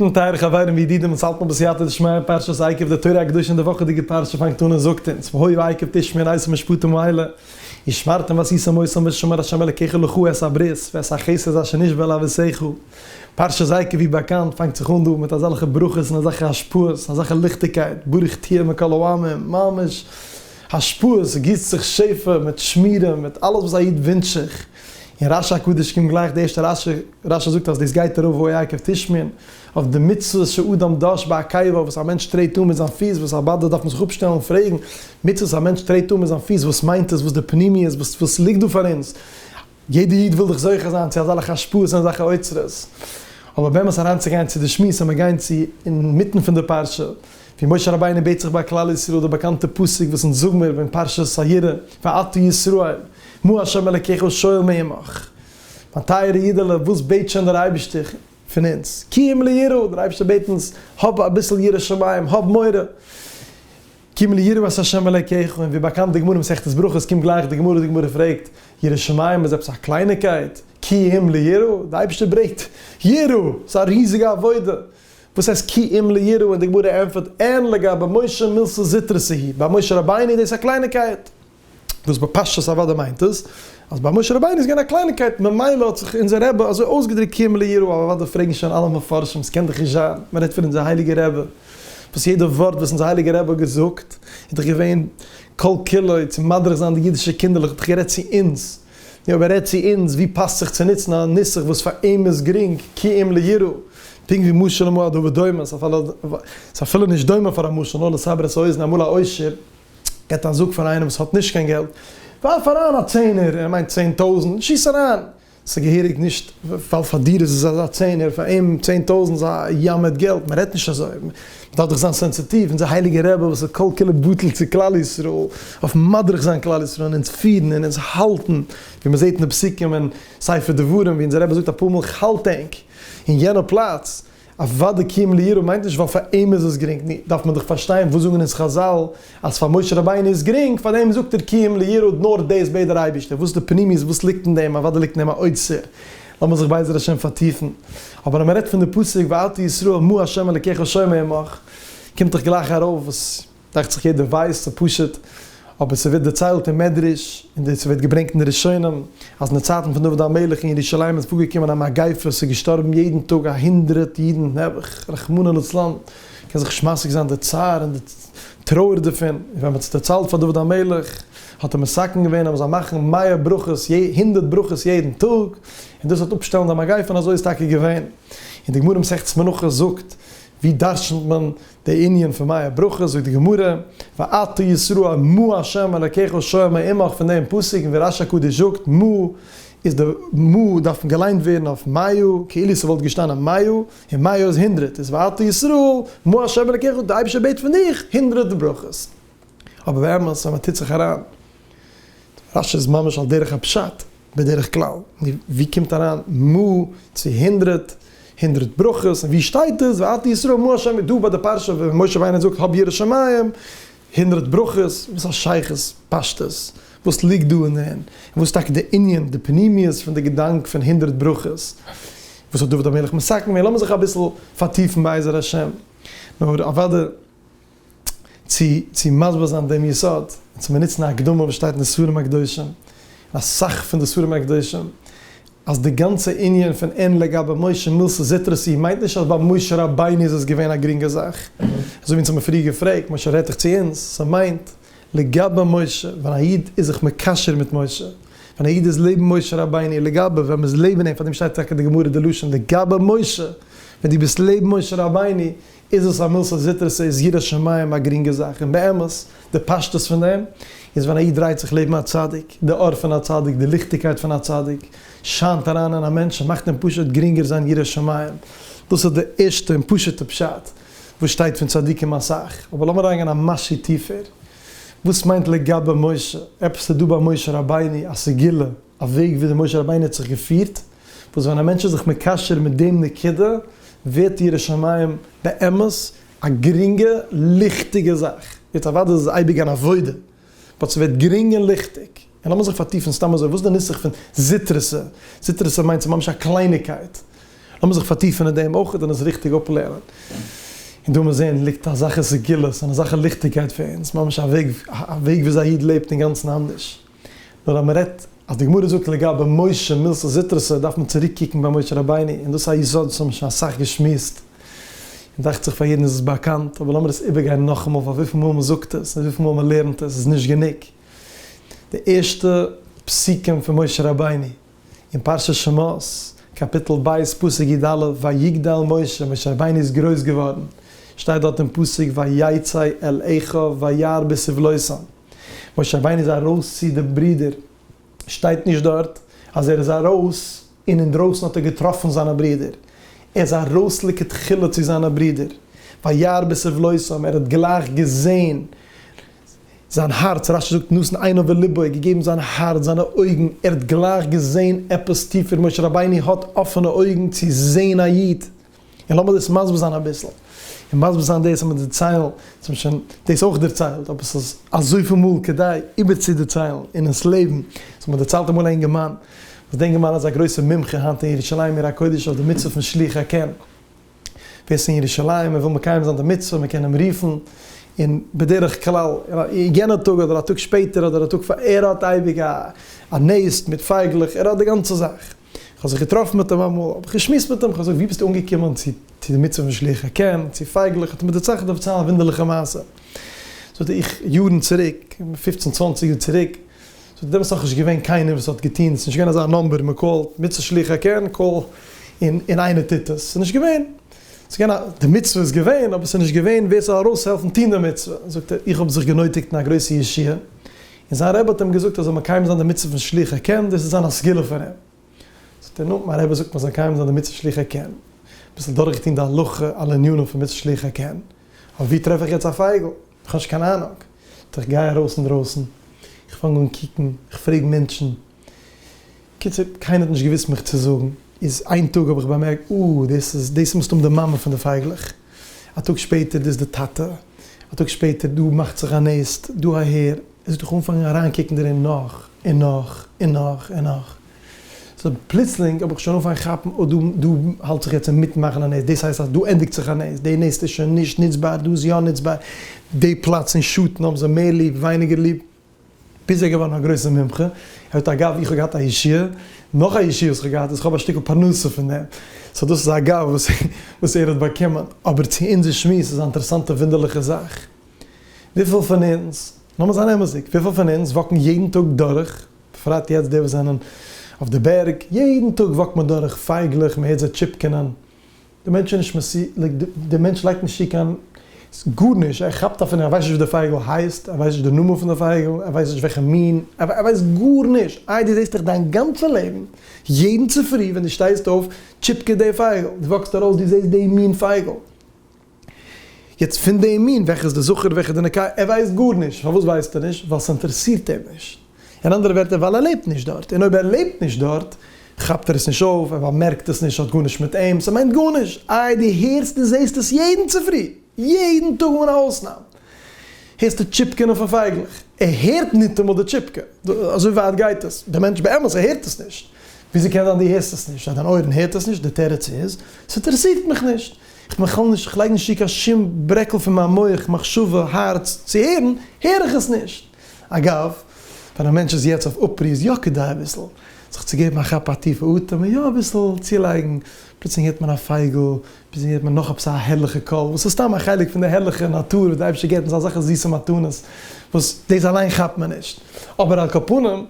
נו טייערע חברים וידידים אונז האלט נאך בסייעתא דשמיא אין פרשת עקב די תורה הקדושה אין די וואכעדיגע פרשה פאנגט אן און זאגט אונז והיו עקב תשמין אין עשרה משפטים האלה ושמרתם ועשיתם מוסר משמר השם אלקיכם לכו את הברית ואת החסד אשר נשבע לאבותיכם פרשת עקב ווי באקאנט פאנגט זיך אן דא מיט אזעלכע ברכות און אזעלכע השפעות אזעלכע ליכטיגקייט ברוך תהיה מכל העמים ממש השפעות גיסט זיך שפע מיט שמירה מיט אלעס וואס א איד ווינטש זיך. אין רש י הקדוש קומט גלייך די ערשטע רשי, רש י זאגט אז דאס גייט ארויף וואו העיקר תשמין, אויף די מצוות שאדם דש בעקיבא וואס א מענטש טרעט אן מיט זיין פיס, וואס א בת דארף מען זיך אפשטעלן און פרעגן, מצוות א מענטש טרעט אן מיט זיין פיס וואס מיינט עס, וואס די פנימיות, וואס וואס ליגט דא פאר אונז, יעדע איד וויל דאך זוכה זיין צו אזאלעכע השפעות און אזאלכע אוצרות, אבער באמת אריינצוגיין צו די שמועס און מיר גייען צו אינמיטן פון די פרשה. ווי משה רבינו בעט זיך ביי כלל ישראל די באקאנטע פסוק וואס אונז זאג מיר אין פרשת הירא ואתו ישראל מה השם אלקיך שואל מעמך מיין טייערע אידעלע וואס בעט שוין דער אייבערשטער פון אונז קים ליראה דער אייבערשטער בעט אונז האב אביסל יראת שמים האב מורא קים ליראה את השם אלקיך און ווי באקאנט די גמרא אין מסכת ברכות קומט גלייך די גמרא די גמרא פרעגט יראת שמים איז עפעס א קלייניקייט קים ליראה די אייבערשטער ברעט יראה ס'איז א ריזיגע עבודה. וואס הייסט כי אם ליראה און די גמרא ענטפערט אין לגבי משה מילתא זוטרא סהי ביי משה רבינו איז דאס א קלייניגקייט וואס בפשטות אוודאי מיינט עס אז ביי משה רבינו איז געווען א קלייניגקייט ממילא האט זיך אונזער רבי אזוי אויסגעדריקט כי אם ליראה אבער אוודאי פרעגן שוין אלע מפרשים עס קען דאך נישט זיין מען רעדט פון אונזער הייליגער רבי וואס יעדע ווארט וואס אונזער הייליגער רבי האט געזאגט איז דאך געווען כל כולו צו מדריך זיין די אידישע קינדערלעך האט דאך גערעדט צו אונז נו אבער רעד צו אונז, ווי פאסט זיך צו נוצן א נוסח וואס פאר אים איז גרינג, כי אם ליראה, פונקט ווי משל למועדו ודומה, ס'איז אפילו נישט דומה פאר א משל, נאר לסבר את האוזן, אמאל א עושר געט א זאג פאר איינעם וואס האט נישט קיין געלט, ווארף אריין א צענער, ער מיינט צען טויזענט, שיס אריין, ס'איז געהעריג נישט, ווייל פאר דיר איז עס א צענער, פאר אים צען טויזענט איז א ים מיט געלט, מ'רעדט נישט אזוי. דארף דאך זיין סענסיטיוו אונזער הייליגע רבי וואס איז כל כולו בטל צו כלל ישראל, אויף מדריך זיין כלל ישראל און אונז פירן און אונז האלטן, ווי מען זעט אין די פסוקים אין ספר דברים ווי אונזער רבי זאגט אפאר מאל כ'האלט ענק אין יענע פלאץ, אוודא כי אם ליראה מיינט נישט ווייל פאר אים איז עס גרינג, נו, דארף מען דאך פארשטיין וואס זאגן אונז חזל אז פאר משה רבינו איז גרינג, פאר דעם זאגט ער כי אם ליראה נאר דאס בעט דער אייבערשטער, וואס די פנימיות וואס ליגט אין דעם, אוודאי ליגט אין דעם א אוצר. לאמיר זיך בעזר השם פארטיפן, אבער אז מען רעדט פון די פסוק ואל תהי ישראל מו ה' אלקיך שומע עמך, קומט דאך גלייך ארויף וואס דאכט זיך יעדער ווייסט און פשוט, אבער ס'ווערט דערציילט אין מדרש, און דאס ווערט געברענגט אין די ראשונים, אז אין די צייטן פון דוד המלך אין ירושלים איז פארגעקומען א מגיפה, ס'איז געשטארבן יעדן טאג א הונדרעט אידן נעבעך, רחמנא לצלן, קען זיך נישט משיג זיין די צער און די טרויער דערפון, און ווען מען האט עס דערציילט פאר דוד המלך, האט ער מסכם געווען אז מ'זאל מאכן מאה ברכות יע הונדערט ברכות יעדן טאג, און דאס וועט אפשטעלן די מגיפה און אזוי איז טאקע געווען. און די גמרא אין מסכת מנחות זאגט, ווי דרשנ'ט מען די ענין פון מאה ברכות, זאגט די גמרא, ואתה ישראל מו ה' אלקיך שומר עמך פון דעם פסוק, און ווי רש הקדוש זאגט, מו איז די מו דארף געליינט ווערן אויף מאה, כאילו ס'וואלט געשטאנען מאה, און מאה איז הונדרעט, איז ואתה ישראל מו ה' אלקיך, די אייבערשטער בעט פון דיך הונדרעט ברכות. אבער באמת אז מען טוט זיך אריין, רשי איז ממש על דרך הפשט בדרך כלל, נו ווי קומט אריין מ צו הונדרעט, הונדרעט ברכות, און ווי שטייט עס ואתה ישראל מה ה' דא ביי די פרשה ווי משה וויינער זאגט האב יראת שמים, הונדרעט ברכות, וואס א שייכות פשטות, וואס ליגט דא און און וואס טאקע די ענין די פנימיות פון די געדאנק פון הונדרעט ברכות, וואס האט דוד המלך מסכם געווען, לאמיר זיך אביסל פארטיפן בעזר השם, נאר אוודאי. צו צו מסביר זיין דעם יסוד און צו באנוצן א הקדמה וואס שטייט אין די ספרים הקדושים און אסאך פון די ספרים הקדושים אז די גאנצע ענין פון אין לגבי משה מילסע זוטרא סי מיינט נישט אז ביי משה רבינו איז עס געווען א גרינגע זאך אזוי ווי אונז האבן פריער געפרעגט משה רעדט דאך צו אונז ס'מיינט לגבי משה ווען א איד איז זיך מקשר מיט משה ווען א איד איז לעבן משה רבינו לגבי ווען מ'איז לעבן אים פארדעם שטייט טאקע די גמרא די לשון לגבי משה ווען דו ביסט לעבן משה רבינו איז עס א מילתא זוטרתא? איז יראת שמים א גרינגע זאך? און באמת, די פשטות פון דעם, איז ווען א איד דרייט זיך לעבן א צדיק, די אור פון א צדיק, די ליכטיגקייט פון א צדיק, שיינט אריין אין א מענטש און מאכט אים פשוט גרינגער זיין ירא שמים. דאס איז די ערשטע און פשוט'ע פשט וואס שטייט פון צדיקים אסאך. אבער לאמיר אריינגיין א משהו טיפער. וואס מיינט לגבי משה? עפעס איז דא ביי משה רבינו, א סגולה, א וועג וויאזוי משה רבינו האט זיך געפירט? וואס ווען א מענטש איז זיך מקשר מיט דעם נקודה ווערט די יראת שמים באמת א גרינגע ליכטיגע זאך, יעצט אוודאי איז עס אייביג אן עבודה, באט ס'ווערט גרינג און ליכטיג, און לאמיר זיך פארטיפן סתם אזוי, וואס איז די נוסח פון זית רסע? זית רסע מיינט ס'איז ממש א קלייניגקייט, לאמיר זיך פארטיפן אין דעם אויך און עס ריכטיג אפלערנען, און דא מיר זען ליגט אזאלכע סגולות און אזאלכע ליכטיגקייט פאר אונז, ממש א וועג א וועג וויאזוי א איד לעבט אינגאנצן אנדערש. נאר אז מען רעדט אז די גמרא זאגט לגבי משה מילתא זוטרתא דארף מען צוריק קוקן ביי משה רבינו און דאס איז א יסוד וואס האבן מיר שוין אסאך געשמועסט און דאכט זיך פאר יעדן איז עס באקאנט אבער לאמיר עס איבערגיין נאכאמאל ווייל וויפיל מאל מען זאגט עס און וויפיל מאל מען לערנט עס איז נישט גענוג די ערשטע פסוקים פון משה רבינו אין פרשת שמות קאפיטל ב' פסוק י ד ויגדל משה משה רבינו איז גרויס געווארן שטייט דארט אין פסוק ויצא אל אחיו וירא בסבלותם משה וויין איז ארויס צו די ברידער, שטייט נישט דארט אז ער איז ארויס און אינדרויסן האט ער געטראפן זיינע ברידער, ער איז ארויס לכתחילה צו זיינע ברידער, וירא בסבלותם, ער האט גלייך געזען זיין הארץ, רשי זאגט נתן עיניו ולבו, געגעבן זיין הארץ, זיינע אויגן, ער האט גלייך געזען עפעס טיפער, משה רבינו האט אפענע אויגן צו זען א איד. און לאמיר דאס מסביר זיין אביסל, און מסביר זיין דאס אז מען דערציילן, עס האט מען שוין דאס אויך דערציילט, אבער עס איז אזויפיל מאל כדאי איבערצודערציילן און אונז לעבן, סאו מען דערציילט אמאל א אינגערמאן, וואס די אינגערמאן איז א גרויסער מומחה היינט אין ירושלים עיר הקודש אויף די מצוה פון שליח הקן, ווער עס איז אין ירושלים און וויל מקיים זיין די מצוה, מען קען אים רופן, און בדרך כלל יענע טאג אדער א טאג שפעטער אדער א טאג פאר, ער האט אייביג א נעסט מיט פייגלעך, ער האט די גאנצע זאך. כ'האב זיך געטראפן מיט אים אמאל, האב איך געשמועסט מיט אים, כ'האב געזאגט ווי ביסטו אנגעקומען צו די מצוה פון שלוח הקן, צו פייגלעך, האט ער מיר דערצייכנט אויף צו א וואונדערליכע מעשה, זאגט ער, איך יארן צוריק, פופצן צוואנציג יאר צוריק, זאגט ער, דעמאלטס איז נאכנישט געווען קיינער וואס האט געטון, ס'איז נישט געווען אזא נומבער, מען קאלט מצוה שלוח הקן, קאל און און איינער טוט עס, ס'איז נישט געווען, ס'איז געווען א, די מצוה איז געווען, אבער ס'איז נישט געווען ווער ס'זאל ארויסהעלפן טון די מצוה, זאגט ער, איך האב זיך גענויטיגט אין א גרויסע ישועה, און זיין רבי האט אים געזאגט ער זאל מקיים זיין די מצוה פון שלוחי קען, דאס איז זיין א סגולה פון אים. זאגט ער נו, מיין רבי זאגט מ'זאל מקיים זיין די מצוה שלוחי קען, אביסל דורכגעטון די הלכה על ענינים פון מצוה שלוחי קען, אבער וואו טרעף איך יעצט א פייגל? איך האב נישט קיין אהנונג. זאגט ער איך גיי ארויס אינדרויסן, איך פאנג אן קוקן, איך פרעג מענטשן, קיצור, קיינער האט נישט געוואוסט מיך צו זאגן, איז איין טאג האב איך באמערקט, אה, דאס איז, דאס איז מסתם די מאמע פון די פייגלעך, א טאג שפעטער, דאס איז די טאטע, א טאג שפעטער, דא מאכט זיך א נעסט, דא אהער, עס האט זיך אנגעפאנגען אריינקוקן דערין נאך, און נאך, און נאך, און נאך. סא פלוצלינג האב איך שוין אנגעפאנגען כאפן, אה, דא, דא האלט זיך יעצט אינמיטן מאכן א נעסט, דאס הייסט אז דא ענדיגט זיך א נעסט, די נעסט איז שוין נישט נוצבאר, דא איז יא נוצבאר, די פלאץ און שטן האבן זיי מער ליב, ווייניגער ליב. ביז ער איז געווארן א גרויסער מומחה, ער האט אגב, איך האב געהאט א ישועה, נאך א ישועה וואס איך האב געהאט איז איך האב א שטיקל פרנסה פון דעם, סא דאס איז אגב וואס ער האט באקומען, אבער צו אונזער שמועס איז א אינטערעסאנטע ווינדערליכע זאך, וויפיל פון אונז, לאמיר זיין אמת'דיג, וויפיל פון אונז וואקן יעדן טאג דורך, בפרט יעצט די וואס זענען אויף די בערג, יעדן טאג וואקט מען דורך פייגלעך, מען הערט זיי טשיפקענען, דער מענטש איז נישט מסי, לייק דער מענטש לייגט נישט צו קיין גארנישט, ער כאפט אפילו נישט, ער ווייסט נישט ווי דער פייגל הייסט, ער ווייסט נישט דער נאמען פון דער פייגל, ער ווייסט נישט וועלכע מין, ער ווייסט גארנישט, איי דו זעסט דיך דיין גאנצע לעבן, יעדן צופרי ווען דו שטייסט אויף, טשיפקעט דער פייגל, דו וואקסט ארויס דו זעסט די מין פייגל, יעצט פון די מין וועלכע איז די זכר וועלכע איז די נקבה, ער ווייסט גארנישט, פארוואס ווייסט ער נישט? ווייל ס'אינטערעסירט אים נישט. אין אנדערע ווערטער ווייל ער לעבט נישט דארט, און אויב ער לעבט נישט דארט כאפט ער עס נישט אויף, ער באמערקט עס נישט, ס'האט גארנישט מיט אים, ס'מיינט גארנישט, איי דו הערסט און זעהסט עס יעדן צופרי, יעדן טאג אן א אויסנאם הערסטו טשיפקענען פון פייגלעך, ער הערט ניטאמאל די טשיפקע, אזוי ווייט גייט עס, דער מענטש באמת ער הערט עס נישט, וויאזוי קען זיין דו הערסט עס נישט, אז דיין אויערן הערט עס נישט, די תירוץ איז, ס'אינטערעסירט מיך נישט, איך בין בכלל נישט, איך לייג נישט צו קיין שום ברעקל פון מיין מח, מחשבה, הארץ, צו הערן, הער איך עס נישט. אגב, ווען א מענטש איז יעצט אויף אפרי איז יא כדאי אביסל זיך צו געבן א כאפ א טיפע אטעם און יא אביסל צולייגן, פלוצלינג הערט מען א פייגל, פלוצלינג הערט מען נאך עפעס א הערליכע קול, וואס איז סתם א חלק פון די הערליכע נאטור וואס די אייבערשטער געבט אונז אזעלכע זיסע מתנות וואס דאס אליין כאפט מען נישט, אבער על כל פנים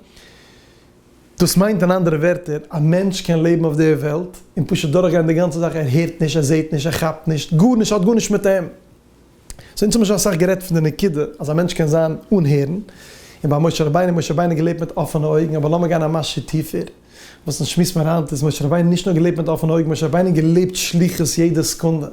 דאס מיינט אין אנדערע ווערטער א מענטש קען לעבן אויף דער וועלט און פשוט דורכגיין די גאנצע זאך ער הערט נישט ער זעט נישט ער כאפט נישט גארנישט האט גארנישט מיט אים. סאו אונז האבן שוין אסאך גערעדט פון די נקודה אז א מענטש קען זיין אן הערן, און ביי משה רבינו, משה רבינו האט געלעבט מיט אפענע אויגן, אבער לאמיר גיין א מעשה טיפער, וואס אונז שמועסן פון היינט איז משה רבינו נישט נאר געלעבט מיט אפענע אויגן, משה רבינו האט געלעבט שליחות יעדע סעקונדע,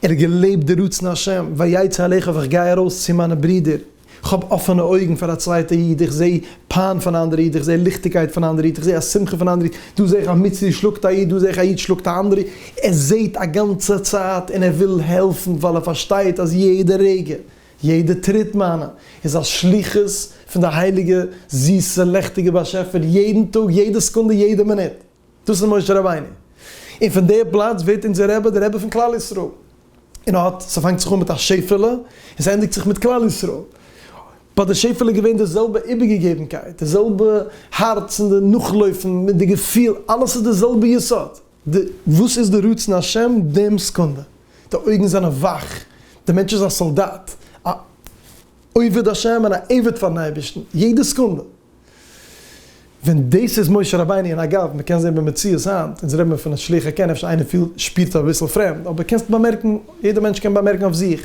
ער האט געלעבט די רצון השם, ויצא אליך ווען איך גיי ארויס צו מיינע ברידער. כ'האב אפענע אויגן פאר א צווייטע איד, איך זע פיין פון א אנדערע איד, איך זע ליכטיגקייט פון א אנדערע איד, איך זע א שמחה פון א אנדערע איד, דא זע איך א מצרי שלאגט א איד, דא זע איך א איד שלאגט א אנדערע איד, ער זעט א גאנצע צייט און ער וויל העלפן ווייל ער פארשטייט אז יעדע רגע, יעדע טריט מיינע איז א שליחות פון די הייליגע זיסע לעכטיגע באשעפער, יעדן טאג, יעדע סקונדע, יעדע מינוט. דאס איז משה רבינו. און פון דער פלאץ ווערט אונזער רבי דער רבי פון כלל ישראל. און ער האט, ס'פאנגט זיך אן מיט א שעפעלע, און ס'ענדיגט זיך מיט כלל ישראל. ביי די שעפעלע געווען די זעלבע איבערגעגעבנקייט, די זעלבע הארץ און די נאכלויפן מיט די געפיל, אלעס איז די זעלבע יסוד. די וואס איז די רצון השם דעם סקונדע. די אויגן זענען וואך, די מענטש איז א סאלדאט, א עובד השם און א עבד פארן אייבערשטן, יעדע סקונדע. ווען דאס איז משה רבינו, און אגב, מען קען זען במציאות היינט, אונז רעדן מיר פון א שליח הק', אפשר איינער פילט, שפירט אביסל פרעמד, אבער קענסט באמערקן, יעדער מענטש קען באמערקן אויף זיך,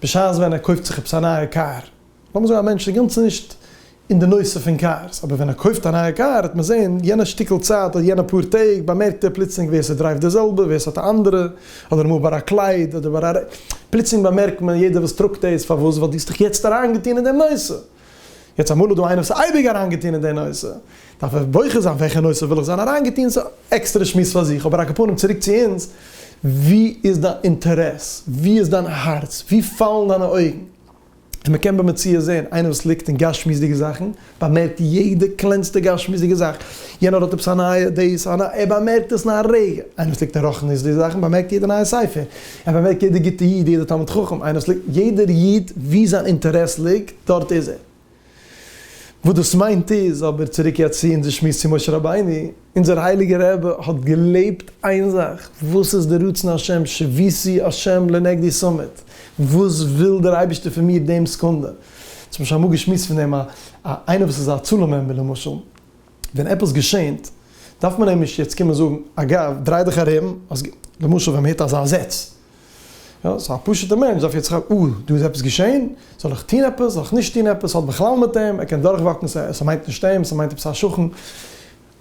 בשעת ווען ער קויפט זיך עפעס א נייע קאר, לאמיר זאגן א מענטש איז גאנץ נישט אין די נושא פון קארס, אבער ווען ער קויפט א נייע קאר, וועט מען זען יענע שטיקל צייט, אדער יענע פאר טעג, באמערקט ער פלוצלינג ווער ס'דרייווט די זעלבע, ווער ס'האט א אנדערע, אדער אמאל ביי א קלייד, אדער ביי א, פלוצלינג באמערקט מען יעדער וואס טראגט דאס, פארוואס, ווייל דו האסט דיך יעצט אריינגעטון אין דעם נושא. יעצט אמאל איז דא איינער וואס איז אייביג אריינגעטון אין די נושא, דארף ער בוחר זיין וועלכע נושא וויל איך זיין אריינגעטון, ס'איז עקסטערע שמועס פאר זיך, אבער אקעפארנעם צוריק צו אונז, ווי איז דיין אינטערעס? ווי איז דיין הארץ? ווי פאלן דיינע אויגן? און מ'קען במציאות זען, איינער וואס ליגט אין גשמיות'דיגע זאכן, באמערקט יעדע קלענסטע גשמיות'דיגע זאך, יענער האט עפעס א נייע דעיס, ער באמערקט עס אין א רגע, איינער וואס ליגט אין רוחניות'דיגע זאכן באמערקט יעדע נייע ספר, ער באמערקט יעדער גוטע איד, יעדער תלמיד חכם, איינער וואס ליגט, יעדער איד וואו זיין אינטערעס ליגט, דארט איז ער. וואס דאס מיינט איז, אבער צוריק יעצט צו אונזער שמועס צו משה רבינו, אונזער הייליגער רבי האט געלעבט איין זאך, וואס איז די רצון השם, שבישי השם לנגדי סומית, וואס וויל דער אייבערשטער פון מיר דעם סקונדע. אונז האבן שוין אמאל געשמועסט פון דעם א איינער וואס איז א הצלה מעמבער למשל, ווען עפעס געשענט דארף מען אים נישט יעצט קומען זאגן, אגב, דריי דיך ארום, אז למשל ווען מען הערט אזא זעץ, יא, סאו א פשוט'ע מענטש דארף יעצט כאפן, אה, דא איז עפעס געשען, זאל איך טון עפעס, זאל איך נישט טון עפעס, ס'האט בכלל מיט אים, ער קען דורכוואקן, ס'מיינט נישט אים, ס'מיינט עפעס א שכן,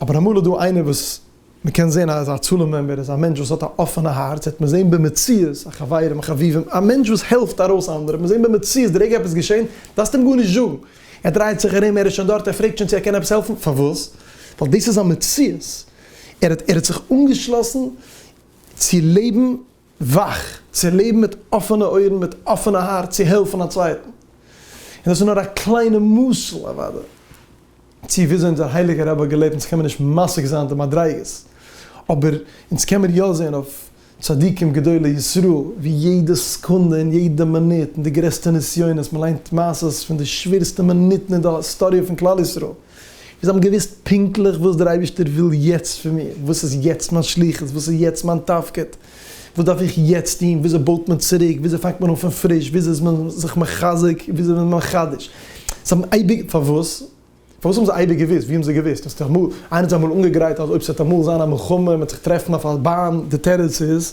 אבער אמאל איז דא איינער וואס מען קען זען אז א צלם מעמבער איז א מענטש וואס האט א אפענע הארץ, וועט מען זען במציאות, א חברים, חביבים, א מענטש וואס העלפט ארויס אנדערע, וועט מען זען במציאות, די רגע עפעס איז געשען, דארפסטו אים גארנישט זאגן, ער דרייט זיך ארום, ער איז שוין דארט, ער פרעגט שוין צו ער קען עפעס העלפן, פארוואס? ווייל דאס איז זיין מציאות, ער האט, ער האט זיך אנגעשלאסן צו לעבן וואך, צו לעבן מיט אפענע אויערן, מיט אפענע הארץ צו העלפן א צווייטן. און דאס איז נאר א קליינע משל, אוודאי, צו וויאזוי אונזער הייליגער רבי האט געלעבט, אונז קען מיר נישט משיג זיין די מדריגות, אבער אונז קען מיר יא זען אויף צדיקים גדולי ישראל, ווי יעדע סעקונדע און יעדע מינוט, אין די גרעסטע נסיונות, מען ליינט מעשות פון די שווערסטע מינוטן אין די היסטאריע פון כלל ישראל, און זיי האבן געוואוסט פונקטליך וואס דער אייבערשטער וויל יעצט פון מיר, וואס איז יעצט מיין שליחות, וואס איז יעצט מיין תפקיד, וואס דארף איך יעצט טון, וויאזוי בויט מען צוריק, וויאזוי פאנגט מען אן פון פריש, וויאזוי איז מען זיך מחזק, וויאזוי איז מען מחדש, זיי האבן אייביג, פארוואס? פארוואס האבן זיי אייביג געוואוסט? ווי האבן זיי געוואוסט? האסט אמאל, איינער האט זיי אמאל אנגעגרייט אז אויב ס'וועט אמאל זיין א מלחמה, מען וועט זיך טרעפן אויף א באן, די תירוץ איז,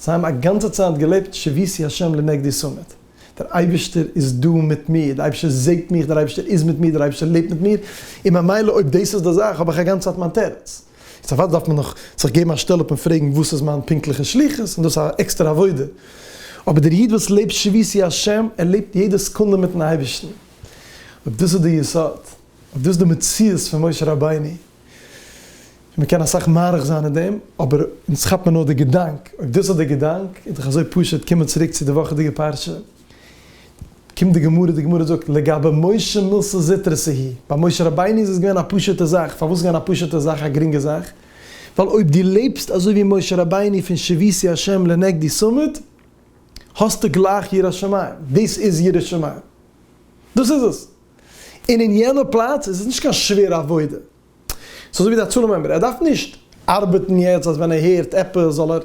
זיי האבן א גאנצע צייט געלעבט שביתי השם לנגדי סומית. דער אייבערשטער איז דא מיט מיר, דער אייבערשטער זעט מיך, דער אייבערשטער איז מיט מיר, דער אייבערשטער לעבט מיט מיר, און ממילא אויב דאס איז די זאך האב איך א גאנצע צייט מיין תירוץ. יעצט אוודאי דארף מען נאך זיך געבן א שטעל אפ און פרעגן וואס איז מיין פונקטליכע שליחות, און דאס איז א עקסטערע עבודה. אבער דער איד וואס לעבט שביתי השם, ער לעבט יעדע סעקונדע מיט'ן אייבערשטן. אויב דאס איז די יסוד, אויב דאס איז די מציאות פון משה רבינו, און מ'קען אסאך מאריך זיין אין דעם, אבער אונז כאפט מיר נאר די געדאנק, אויב דאס איז די געדאנק, איז דאך אזוי פשוט, קומען צוריק צו די וואכעדיגע פרשה, קומט די גמרא, די גמרא זאגט, לגבי משה מילתא זוטרא סהי', ביי משה רבינו איז עס געווען א פשוט'ע זאך, פארוואס איז געווען א פשוט'ע זאך, א גרינגע זאך? ווייל אויב דו לעבסט אזוי ווי משה רבינו פון שביתי השם לנגדי סומד, האסטו גלייך יראת שמים, דאס איז יראת שמים, דאס איז עס. און אין יענע פלאץ איז עס נישט קיין שווערע עבודה. ס'איז אזוי ווי די הצלה מעמבער, ער דארף נישט ארבעטן יעצט אז ווען ער הערט עפעס זאל ער,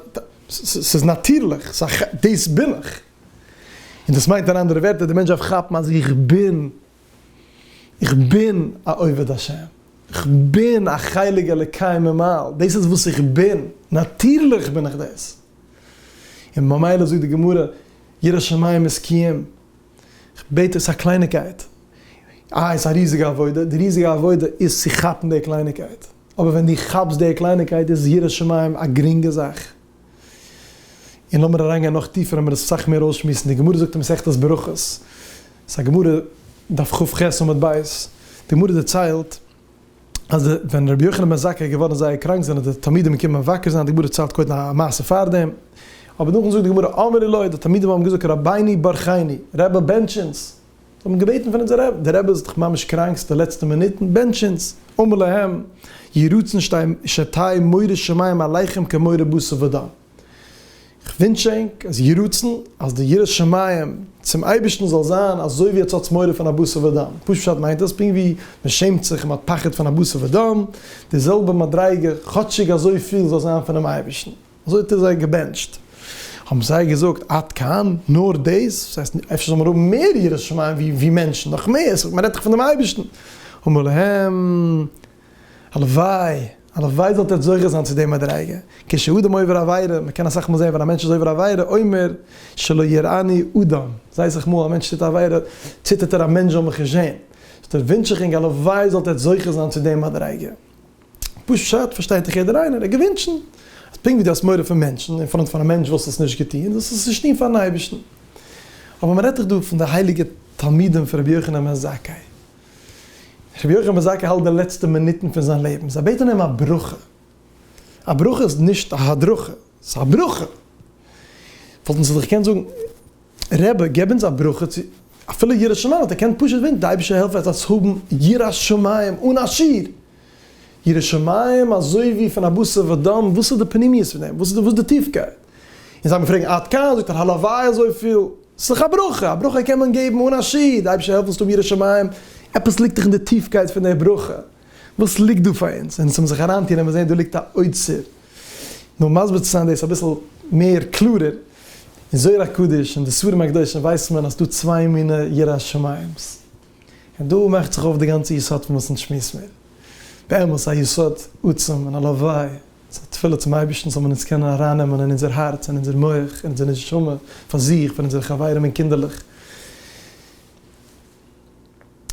ס'איז נאטירליך, דאס בין איך. און דאס מיינט אין אנדערע ווערטער, די מענטש דארף כאפן אז איך בין, איך בין א עובד השם, איך בין א חלק אלוקי ממעל, דאס איז וואס איך בין, נאטירליך בין איך דאס. און ממילא זאגט די גמרא, ירא שמים איז קיום, כ'בעט דיר, ס'איז א קלייניגקייט. אה, עס איז א ריזיגע עבודה. די ריזיגע עבודה איז צו כאפן די קלייניגקייט. אבער ווען דו כאפסט די קלייניגקייט איז יראת שמים א גרינגע זאך. און לאמיר אריינגיין נאך טיפער ווען מיר דאס אסאך מער אויסשמועסן. די גמרא זאגט אין מסכת ברכות, ס'איז א גמרא, דף כ ח עמוד ב', די גמרא דערציילט, אז ווען רבי יוחנן בן זכאי איז געווארן זייער קראנק זענען די תלמידים געקומען מבקר זיין די גמרא ציילט קודם א מעשה פארדעם אבער נאכדעם זאגט די גמרא אמר לי לוי די תלמידים האבן געזאגט רבינו ברכני רבי בענטש אונז זיי האבן געבעטן פון אונזער רבי דער רבי איז דאך ממש קראנק ס'איז די לעצטע מינוטן בענטש אונז אמר להם יהי רצון שתהי' מורי שמים עליכם כמורי בשר ודם. איך ווינטש ענק אז יהי רצון אז די יראת שמים צום אייבערשטן זאל זיין אזוי ווי עטס האטס מורא פון א בשר ודם, פשוט פשט מיינט עס פונקט ווי מען שעמט זיך און מען האט פחד פון א בשר ודם, די זעלבע מדריגה כאטשיג אזוי פיל זאל זיין פונעם אייבערשטן, אזוי האט ער זיי געבענטשט, האבן זיי געזאגט עד כאן? נאר דאס? דאס הייסט אפשר זאל מען האבן מער יראת שמים ווי מענטשן, נאך מער, מען רעדט דאך פון דעם אייבערשטן, אמר להם. הלוואי, הלוואי זאלט איר זוכה זיין צו די מדריגה, כשאדם עובר עבירה, מען קען אסאך מאל זען ווען א מענטש איז עובר עבירה אומר שלא יראני אדם, זיי אסאך מאל א מענטש טוט א עבירה ציטערט ער א מענטש זאל מיך נישט זען, דערפאר ווינטש איך ענק הלוואי זאלט איר זוכה זיין צו די מדריגה, פשט פארשטייט דאך יעדער איינער, ער געווינטשן אז פונקט ווי דו האסט מורא פון מענטשן אין פראנט פון א מענטש וואלסט עס נישט געטון, זאלסט עס נישט טון פארן אייבערשטן, אבער מען רעדט דאך דא פון די הייליגע תלמידים פון רבי יוחנן בן זכאי. רבי יוחנן בן זכאי האלט די לעצטע מינוטן פון זיין לעבן, זיי בעטן אים א ברכה, א ברכה איז נישט א הדרכה, ס'איז א ברכה, וואלטן זיי דאך געקענט זאגן, רבי געב אונז א ברכה צו אפילו יראת שמים, וואלט ער געקענט פשוט בעטן די אייבערשטער העלף עטס האבן יראת שמים אן א שיעור, ירא שמים אזוי ווי פון א בשר ודם, וואס איז די פנימיות פון דעם, וואס איז די טיפקייט? און זיי באפרעגן עד כאן, זאגט ער הלוואי אזויפיל, ס'איז דאך א ברכה, א ברכה קען מען געבן אן השי ת, אייבערשטער העלף אונז צו האבן ירא שמים, עפעס ליגט דאך אין די טיפקייט פון דער ברכה, וואס ליגט דא פאר אונז, און צום זיך אריינטון וועט מען זען דא ליגט א אוצר, נאר מסביר צו זיין דאס אביסל מער קלארער, אין זוהר הקדוש און די ספרים הקדושים ווייסט מען אז ס'דא צוויי מיני יראת שמים'ס. און דא מאכט זיך אויף די גאנצע יסוד פון וואס אונז שמועסן מיר. באמת א יסוד עצום און הלוואי ס'איז א תפילה צום אייבערשטן זאל מען אונז קענען ארייננעמען אין אונזער הארץ, אין אונזער מח, אין אונזער נשמה, פאר זיך, פאר אונזערע חברים און קינדערלעך.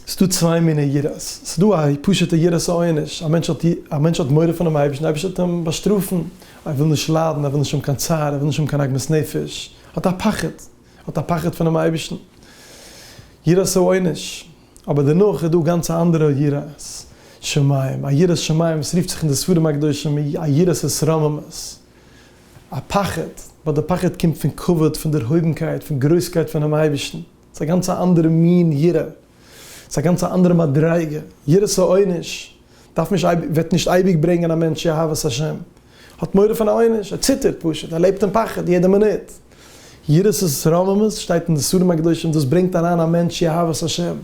ס'איז דא צוויי מיני יראות. ס'איז דא א פשוט'ע יראת העונש, א מענטש האט א מענטש האט מורא פונעם אייבערשטן, די אייבערשטער וועט אים באשטראפן, ער וויל נישט ליידן, ער וויל נישט האבן קיין צער, ער וויל נישט האבן קיין עגמת נפש, האט א פחד. האט א פחד פונעם אייבערשטן, יראת העונש, אבער דערנאך איז דא גאנץ א אנדערע יראת שמים, א יראת שמים וואס רופט זיך אין די ספרים הקדושים א יראת התרוממות, א פחד, ווייל די פחד קומט פון כבוד, פון דערהויבנקייט, פון גרויסקייט פונעם אייבערשטן, ס'איז א גאנץ א אנדערע מין יראה, ס'איז א גאנץ א אנדערע מדריגה, יראת העונש דארף נישט אייביג, וועט נישט אייביג ברענגען א מענטש צו אהבת השם. האט מורא פון א עונש, ער ציטערט פשוט, ער לעבט אין פחד יעדע מינוט. יראת רוממות שטייט אין די ספרים הקדושים, דאס ברענגט אריין א מענטש צו אהבת השם.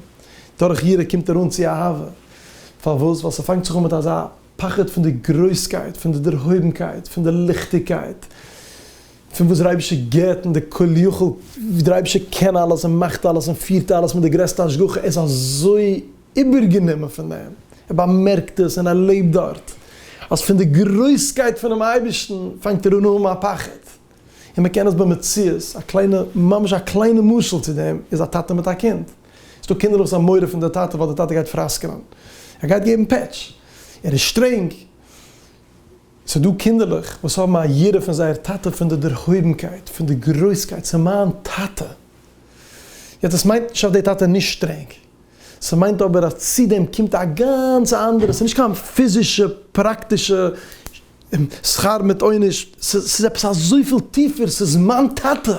דורך יראה קומט ער אן צו אהבה. פארוואס? ווייל ס'פאנגט זיך אן מיט אזא פחד פון די גרויסקייט, פון די דערהויבנקייט, פון די ליכטיגקייט, פון וואס דער אייבערשטער גיבט, און די כל יכול, ווי דער אייבערשטער קען אלעס און מאכט אלעס און פירט אלעס מיט די גרעסטע השגחה, ער איז אזוי. איבערגענומען פון אים, ער באמערקט עס און ער לעבט דארט, אז פון די גרויסקייט פונעם אייבערשטן פאנגט ער אן האבן א פחד, און מען קען עס במציאות, א קליינע, ממש א קליינע משל צו דעם איז א טאטע מיט א קינד, עס איז דא קינדער וואס האבן מורא פון די טאטע ווייל די טאטע גייט פראסקענען, ער גייט געבן פעטש, ער איז שטרענג, ס'איז דא קינדערלעך וואס האבן א יראה פון זייער טאטע פון די דערהויבנקייט, פון די גרויסקייט, ס'איז מיין טאטע, יעצט עס מיינט נישט אז די טאטע איז נישט שטרענג, ס'מיינט אבער אז צו דעם קומט א גאנץ אנדערע, ס'איז נישט קיין פיזישע פראקטישע שכר מיט עונש, ס'איז עפעס אזויפיל טיפער, ס'איז מיין טאטע,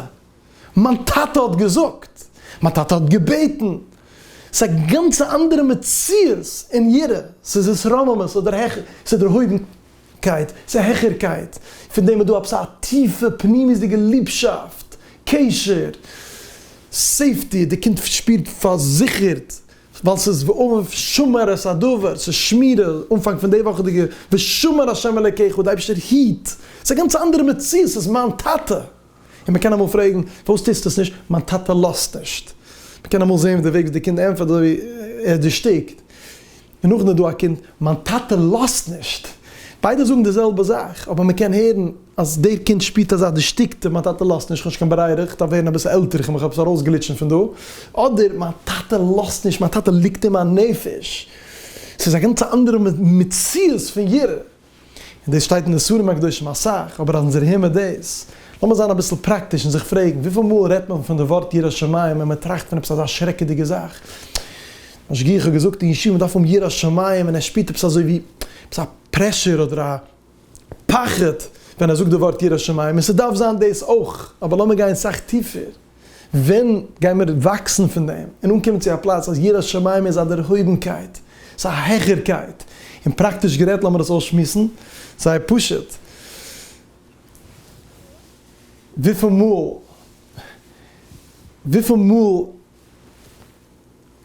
מיין טאטע האט געזאגט, מיין טאטע האט געבעטן, ס'איז א גאנץ אנדערע מציאות און יראה, ס'איז התרוממות אדער העכער, ס'איז דערהויבן קייט, ס'איז א העכערקייט, פון דעם איז דא עפעס א טיפע פנימיות'דיגע ליבשאפט, קשר, סעיפטי, די קינד שפירט פארזיכערט, ווייל ס'איז ואהוב שמר את הדבר, ס'איז שמירה, אנפאנג פון די וואכעדיגע ושמר השם אלקיך, די אייבערשטער היט, ס'איז א גאנץ אנדערע מציאות, ס'איז מיין טאטע. און מען קען אמאל פרעגן, פארוואס טוסטו עס נישט? מיין טאטע לאזט נישט. מען קען אמאל זען ווי די וועג וואס די קינד ענטפערט איז אזויווי ער איז דערשטיקט. און נאכדעם איז דא א קינד, מיין טאטע לאזט נישט. ביידע זאגן די זעלבע זאך, אבער מען קען הערן אז דער קינד שפירט אזא דערשטיקטע, מיין טאטע לאזט נישט, איך האב נישט קיין ברירה, איך דארף ווערן אביסל עלטער, איך מיך עפעס ארויסגליטשן פון דא. אדער, מיין טאטע לאזט נישט, מיין טאטע ליגט אין מיין נפש. ס'איז א גאנץ אנדערע מציאות פון יראה. און דאס שטייט אין די ספרים הקדושים אסאך, אבער אז אונז דערהער מיר דאס, לאמיר זיין אביסל פראקטיש און זיך פרעגן, וויפיל מאל רעדט מען פון די ווארט יראת שמים ווען מען טראכט פון עפעס אזא שרעקעדיגע זאך? משגיח האט געזאגט אין ישיבה מען דארף האבן יראת שמים ווען ער שפירט עפעס אזוי ווי עפעס א פרעשור אדער א פחד ווען ער זאגט די ווארט יראת שמים, און ס'דארף זיין דאס אויך, אבער לאמיר גיין סאך טיפער. ווען גייען מיר וואקסן פון דעם און אנקומען צו א פלאץ אז יראת שמים איז א דערהויבנקייט, ס'איז א העכערקייט? און פראקטיש גערעדט, לאמיר דאס אויסשמועסן זייער פשוט, וויפיל מאל, וויפיל מאל,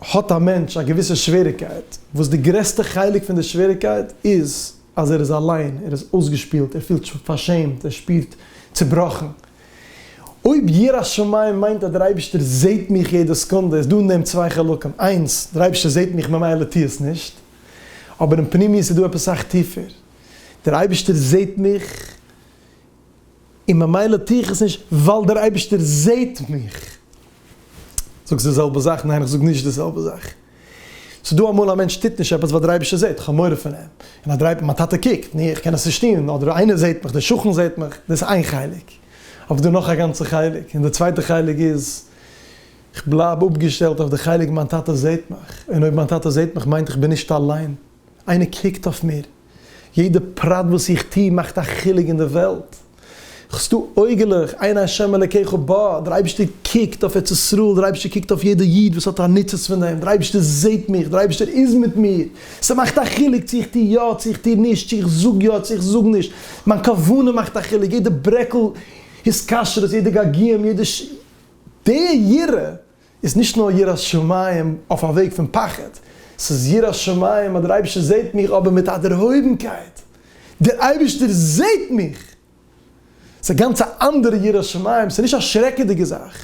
האט א מענטש א געוויסע שוועריגקייט, וואס די גרעסטע חלק פון די שוועריגקייט איז אז ער איז אליין, ער איז אויסגעשפילט, ער פילט פארשעמט, ער שפירט צובראכן. אויב יראת שמים מיינט אז דער אייבערשטער זעט מיך יעדע סעקונדע, איז דא אין דעם צוויי חלקים, איינס, דער אייבערשטער זעט מיך ממילא טו עס נישט. אבער אין פנימיות איז דא עפעס סאך טיפער, דער אייבערשטער זעט מיך, און ממילא טו איך עס נישט ווייל דער אייבערשטער זעט מיך. זאגסט די זעלבע זאך? ניין איך זאג נישט די זעלבע זאך. ס'איז דא אמאל א מענטש טוט נישט עפעס ווייל דער אייבערשטער זעט, כ'האב מורא פון אים, און אז דער מיין טאטע קוקט, ני איך קען עס נישט טון, אדער איינער זעט מיך, דער שכן זעט מיך, דאס איז איין חלק, אבער דא נאך א גאנצע חלק, און די צווייטע חלק איז, כ'בלייב אפגעשטעלט אויף די חלק מיין טאטע זעט מיך, און אויב מיין טאטע זעט מיך מיינט איך בין נישט אליין. איינער קוקט אויף מיר, יעדע פרט וואס איך טו מאכט א חילוק אין די וועלט, כ'סטא אויגעלעך, עיני השם אלקיך בה, דער אייבערשטער קוקט אויף ארץ ישראל, דער אייבערשטער קוקט אויף יעדע איד וואס האט א ניצוץ פון דעם, דער אייבערשטער זעט מיך, דער אייבערשטער איז מיט מיר, ס'מאכט א חילוק צו איך טו יא, צו איך טו נישט, צו איך זאג יא, צו איך זאג נישט, מיין כוונה מאכט א חילוק, יעדע ברעקל התקשרות, יעדע געגועים, יעדע ש ת, די יראה איז נישט נאר יראת שמים אויף א וועג פון פחד, ס'איז יראת שמים אז דער אייבערשטער זעט מיך אבער מיט א דערהויבנקייט, דער אייבערשטער זעט מיך! ס'איז א גאנץ א אנדערע יראת שמים, ס'איז נישט א שרעקעדיגע זאך,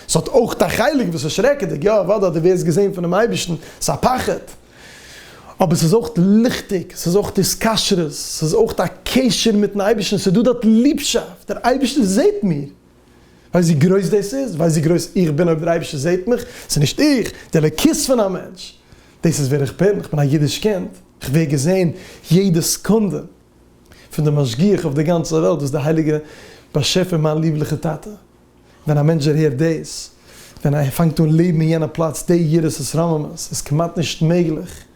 ס'האט אויך א חלק וואס איז שרעקעדיג, יא אוודאי, דו ווערסט געזען פונעם אייבערשטן, ס'איז א פחד, אבער ס'איז אויך ליכטיג, ס'איז אויך התקשרות, ס'איז אויך א קשר מיטן אייבערשטן, ס'איז דא דארט ליבשאפט, דער אייבערשטער זעט מיר! ווייסט ווי גרויס דאס איז? ווייסט ווי גרויס איך בין אויב דער אייבערשטער זעט מיך? ס'איז נישט איך, די אלוקית פון א מענטש. דאס איז ווער איך בין, איך בין א אידיש קינד, איך ווער געזען יעדע סעקונדע פון דער משגיח אויף דער גאנצער וועלט וואס דער הייליגער באשעפער מיין ליבליכער טאטע. ווען א מענטש דערהערט דאס, ווען ער פאנגט אן לעבן אין יענע פלאץ, די יראת התרוממות איז כמעט נישט מעגליך.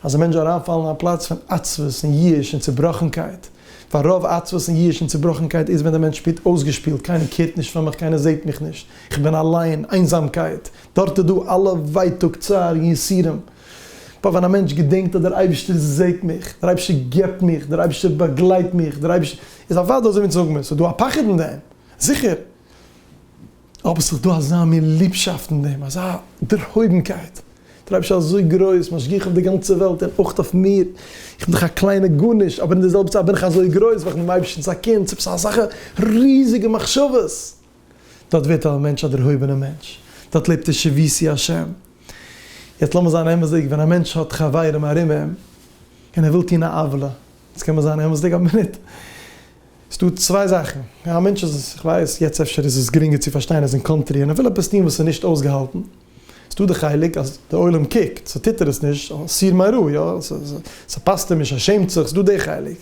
אז א מענטש זאל אריינפאלן אין א פלאץ פון עצבות און ייאוש און צובראכנקייט, ווייל רוב עצבות און ייאוש און צובראכנקייט איז ווען דער מענטש שפירט אויסגעשפילט, קיינער קערט נישט פאר מיך, קיינער זעט מיך נישט, איך בין אליין, איינזאמקייט, דארט איז דא אלע ווייטאג, צער און יסורים. בה ווען א מענטש געדענקט אז דער אייבערשטער זעט מיך, דער אייבערשטער געבט מיך, דער אייבערשטער באגלייט מיך, דער אייבערשטער, איז אוודאי אזוי ווי אונז זאגן מיר, ס'איז דא א פחד אין דעם, זיכער. אבער ס'איז דא אזא מין ליבשאפט אין דעם, אזא דערהויבנקייט, דער אייבערשטער איז אזוי גרויס, משגיח אויף די גאנצע וועלט און אויך אויף מיר, איך בין דאך א קליינע גארנישט, אבער אין די זעלבע צייט בין איך אזוי גרויס ווייל איך בין דעם אייבערשטנ'ס א קינד, ס'איז עפעס אזעלכע ריזיגע מחשבות, דארט ווערט א מענטש א דערהויבענער מענטש, דארט לעבט ער שביעי השם. יעצט לאמיר זיין אמת'דיג, ווען א מענטש האט חברים ארום אים און ער וויל טון א עוולה, יעצט קען מען זיין אמת'דיג א מינוט, ס'דא צוויי זאכן, א מענטש איז, איך ווייס, יעצט אפשר איז עס גרינגער צו פארשטיין, ער איז אין קאנטרי און ער וויל עפעס טון וואס איז נישט אויסגעהאלטן, ס'דא די חלק אז די עולם קוקט, סאו טוט ער עס נישט, אסיר מרע, יא, ס'פאסט אים נישט, ער שעמט זיך, ס'דא די חלק.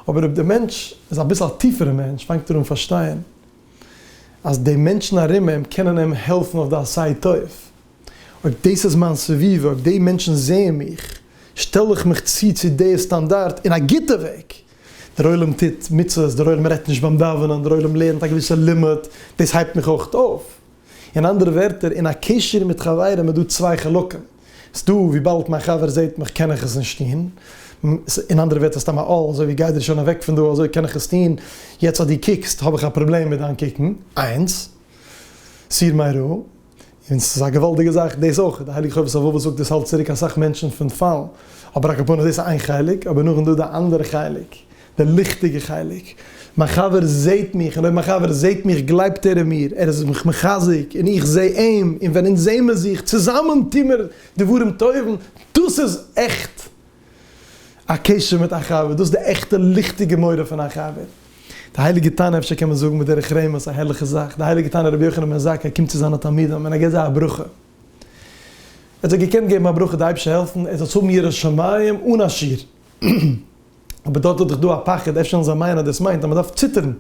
אבער אויב די מענטש איז אביסל א טיפערע מענטש, פאנגט ער אן פארשטיין אז די מענטשן ארום אים קענען אים העלפן אויף די עשה טוב. אויב דאס איז מיין סביבה, אויב די מענטשן זעען מיך, שטעל איך מיך צו צו די סטאנדארט אין א גוטע וועג. דער עולם טוט מצוות, דער עולם רעדט נישט ביים דאווענען, דער עולם לערנט א געוויסע לימוד, דאס הייבט מיך אויך אויף. אין אנדערע ווערטער, אין א קשר מיט חברים איז דא צוויי חלקים. ס'איז דא וויבאלד מיין חבר זעט מיך קען איך עס נישט טון. אין אנדערע ווערטער סתם א עול, אזוי ווי גיי דיר שוין אוועק פון דא, אזוי קען איך עס טון. יעצט אז דו קוקסט האב איך א פראבלעם מיט דיין קוקן. איינס. סיר מיירא. און ס'איז א געוואלדיגע זאך דאס אויך, די הייליגע חובת הלבבות זאגט דאס האלט צוריק אסאך מענטשן פון פאלן, אבער אקאפארנע דאס איז איין חלק, אבער נאכדעם דא די אנדערע חלק, די ליכטיגע חלק, מיין חבר זעהט מיך, און אויב מיין חבר זעהט מיך גלייבט ער אין מיר, ער איז מיך מחזק און איך זעה אים, און ווען אונז זעמער זיך צוזאמען טוהמער דברים טובים, דאס איז עכט א קשר מיט א חבר, דאס איז די עכטע ליכטיגע מורא פון א חבר. די הייליגע תנא, אפשר קען מען זאגן בדרך רמז, א הערליכע זאך, די הייליגע תנא רבי יוחנן בן זכאי קומט צו זיינע תלמידים און ער געבט זיי א ברכה. ער האט זיי געקענט געבן א ברכה די אייבערשטער העלפן ער זאלסט האבן יראת שמים אן א שיעור. אבער דארט האט דאך דא א פחד, אפשר וועלן זיי מיינען אז דאס מיינט אז מען דארף ציטערן.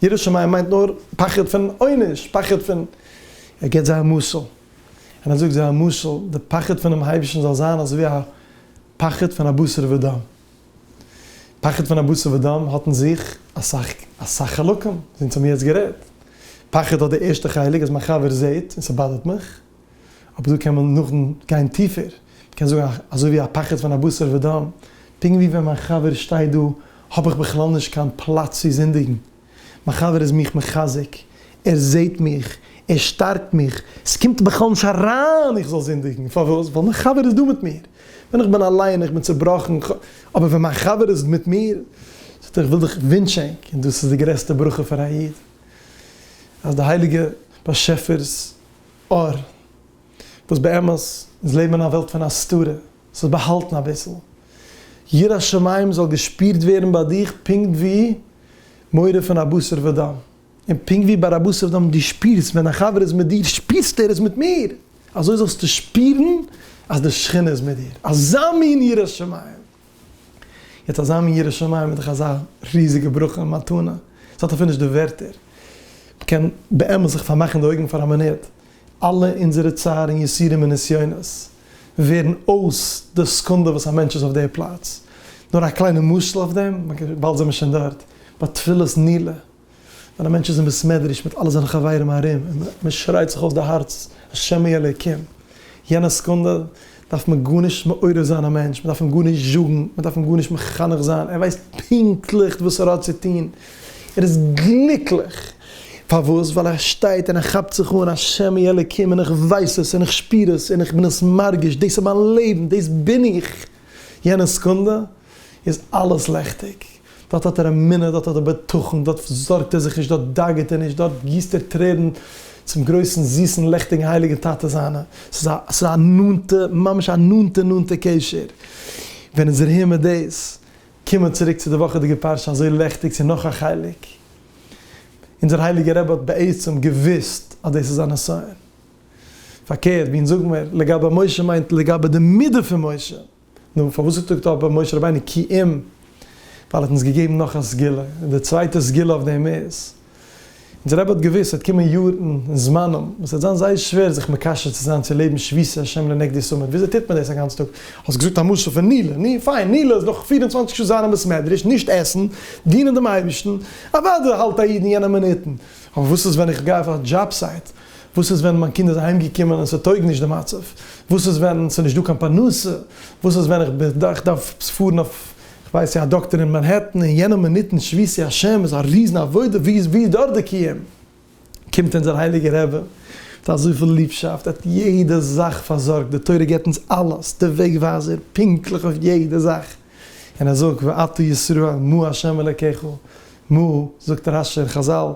ירא שמים מיינט נאר פחד פון עונש, פחד פון, ער געבט זיי א משל, און ער זאגט זיי א משל, די פחד פונעם אייבערשטן זאל זיין אזויווי א פחד פון א בשר ודם, פחד פון א בשר ודם האט אין זיך אסאך אסאך חלקים, אונז האמיר יעצט גערעדט, פחד האט די ערשטע חלק אז מיין חבר זעט און ס'באדערט מיך. אבער דא קען מען נאכדעם גיין טיפער, מען קען זאגן אזוי ווי א פחד פון א בשר ודם, פונקט ווי ווען מיין חבר שטייט דא האב איך בכלל נישט קיין פלאץ צו זינדיגן, מיין חבר איז מיך מחזק, ער זעט מיך, ער שטארקט מיך, עס קומט בכלל נישט אריין איך זאל זינדיגן, פארוואס? ווייל מיין חבר איז דא מיט מיר, ווען איך בין אליין איך בין צובראכן, אבער ווען מיין חבר איז מיט מיר, זאגט ער איך וויל דיך ווינטשענק, און דאס איז די גרעסטע ברכה פאר א איד, אז די הייליגע באשעפער'ס אור. וואס באמת איז לעבן אין א וועלט פון הסתרה, ס'איז באהאלטן אביסל. יראת שמים זאל געשפירט ווערן ביי דיך פונקט ווי מורא פון א בשר ודם. און פונקט ווי ביי א בשר ודם דו שפירסט ווען דיין חבר איז מיט דיר, שפירסטו ער איז מיט מיר, אזוי זאלסטו שפירן אז די שכינה איז מיט דיר. אזא מין יראת שמים! יעצט אזא מין ירא שמים איז דאך אזא ריזיגע ברכה און מתנה, ס'האט אפילו נישט די ווערטער. מ'קען באמת זיך פארמאכן די אויגן פאר א מינוט, אלע אונזערע צער און יסורים און נסיונות ווערן אויס די סעקונדע וואס א מענטש איז אויף די פלאץ. נאר א קליינע משל אויף דעם, וויבאלד זעמיר שוין דארט, ביי תפילת נעילה, ווען א מענטש איז אין בית מדרש מיט אלע זיינע חברים ארום און מען שרייט זיך אויס די הארץ השמי אלוקים, יענע סעקונדע דארף מען גארנישט מעורר זיין א מענטש, מען דארף אים גארנישט זאגן, מען דארף אים גארנישט מחנך זיין, ער ווייסט פונקטליך וואס ער האט צו טון, ער איז גליקליך, פארוואס? ווייל ער שטייט און ער כאפט זיך אן השמי אלוקים און איך ווייס עס און איך שפיר עס און איך בין עס מרגיש, דאס איז מיין לעבן, דאס בין איך. יענע סעקונדע איז אלעס לעכטיג. דארט האט ער אמונה, דארט האט ער בטחון, דארט זארגט ער זיך נישט, דארט דאגה'ט ער נישט, דארט גיסט ער טרערן צום גרויסן זיסן לעכטיגן הייליגן טאטע זיינע. ס'איז א ס'איז א נאנטע, ממש א נאנטע נאנטע קשר. ווען איז ער אהין מיט דאס? קום מיר צוריק צו די וואכעדיגע פרשה אזוי לעכטיג צו נאך א חלק. אונזער הייליגער רבי האט בעצם געוואוסט אז דאס איז א נסיון. פארקערט, ווען זאגן מיר לגבי משה מיינט לגבי די מידה פון משה. נו, פארוואס האט געזאגט אבער משה רבינו כי אם? ווייל ער האט אונז געגעבן נאך א סגולה, און די צווייטע סגולה אויף דעם איז, אונזער רבי האט געוואוסט ס'וועט קומען יארן און זמנים וואס ס'וועט זיין זייער שווער זיך מקשר צו זיין צו לעבן שביתי השם לנגדי סאמעט, וויאזוי טוט מען דאס א גאנץ טאג? האסט געזאגט א משל פון נילא, נו פיין, נילא איז דאך פֿיר און צוואַנציק שעה זיין אין בית מדרש, נישט עסן, דינען דעם אייבערשטן, אוודאי האלט א איד אין יענע מינוטן, אבער וואס איז ווען איך גיי אויף א דזשאב סייט? וואס איז ווען מיין קינד איז אהיים געקומען און ס'טויג נישט די מצב? וואס איז ווען ס'איז נישט דא קיין פרנסה? וואס איז ווען איך בין דא איך דארף פארן אויף כ'ווייס נישט א דאקטער אין מאנהעטן און יענע מינוט אין שביתי השם איז א ריזן עבודה ווי איז ווי איז דארט די קיום? קומט אונזער הייליגער רבי מיט אזויפיל ליבשאפט ער האט יעדע זאך פארזארגט די תורה גיבט אונז אלעס די וועג ווייזער פונקטליך אויף יעדע זאך און ער זאגט ואתה ישראל מה ה' אלקיך מה זאגט רשי און חזל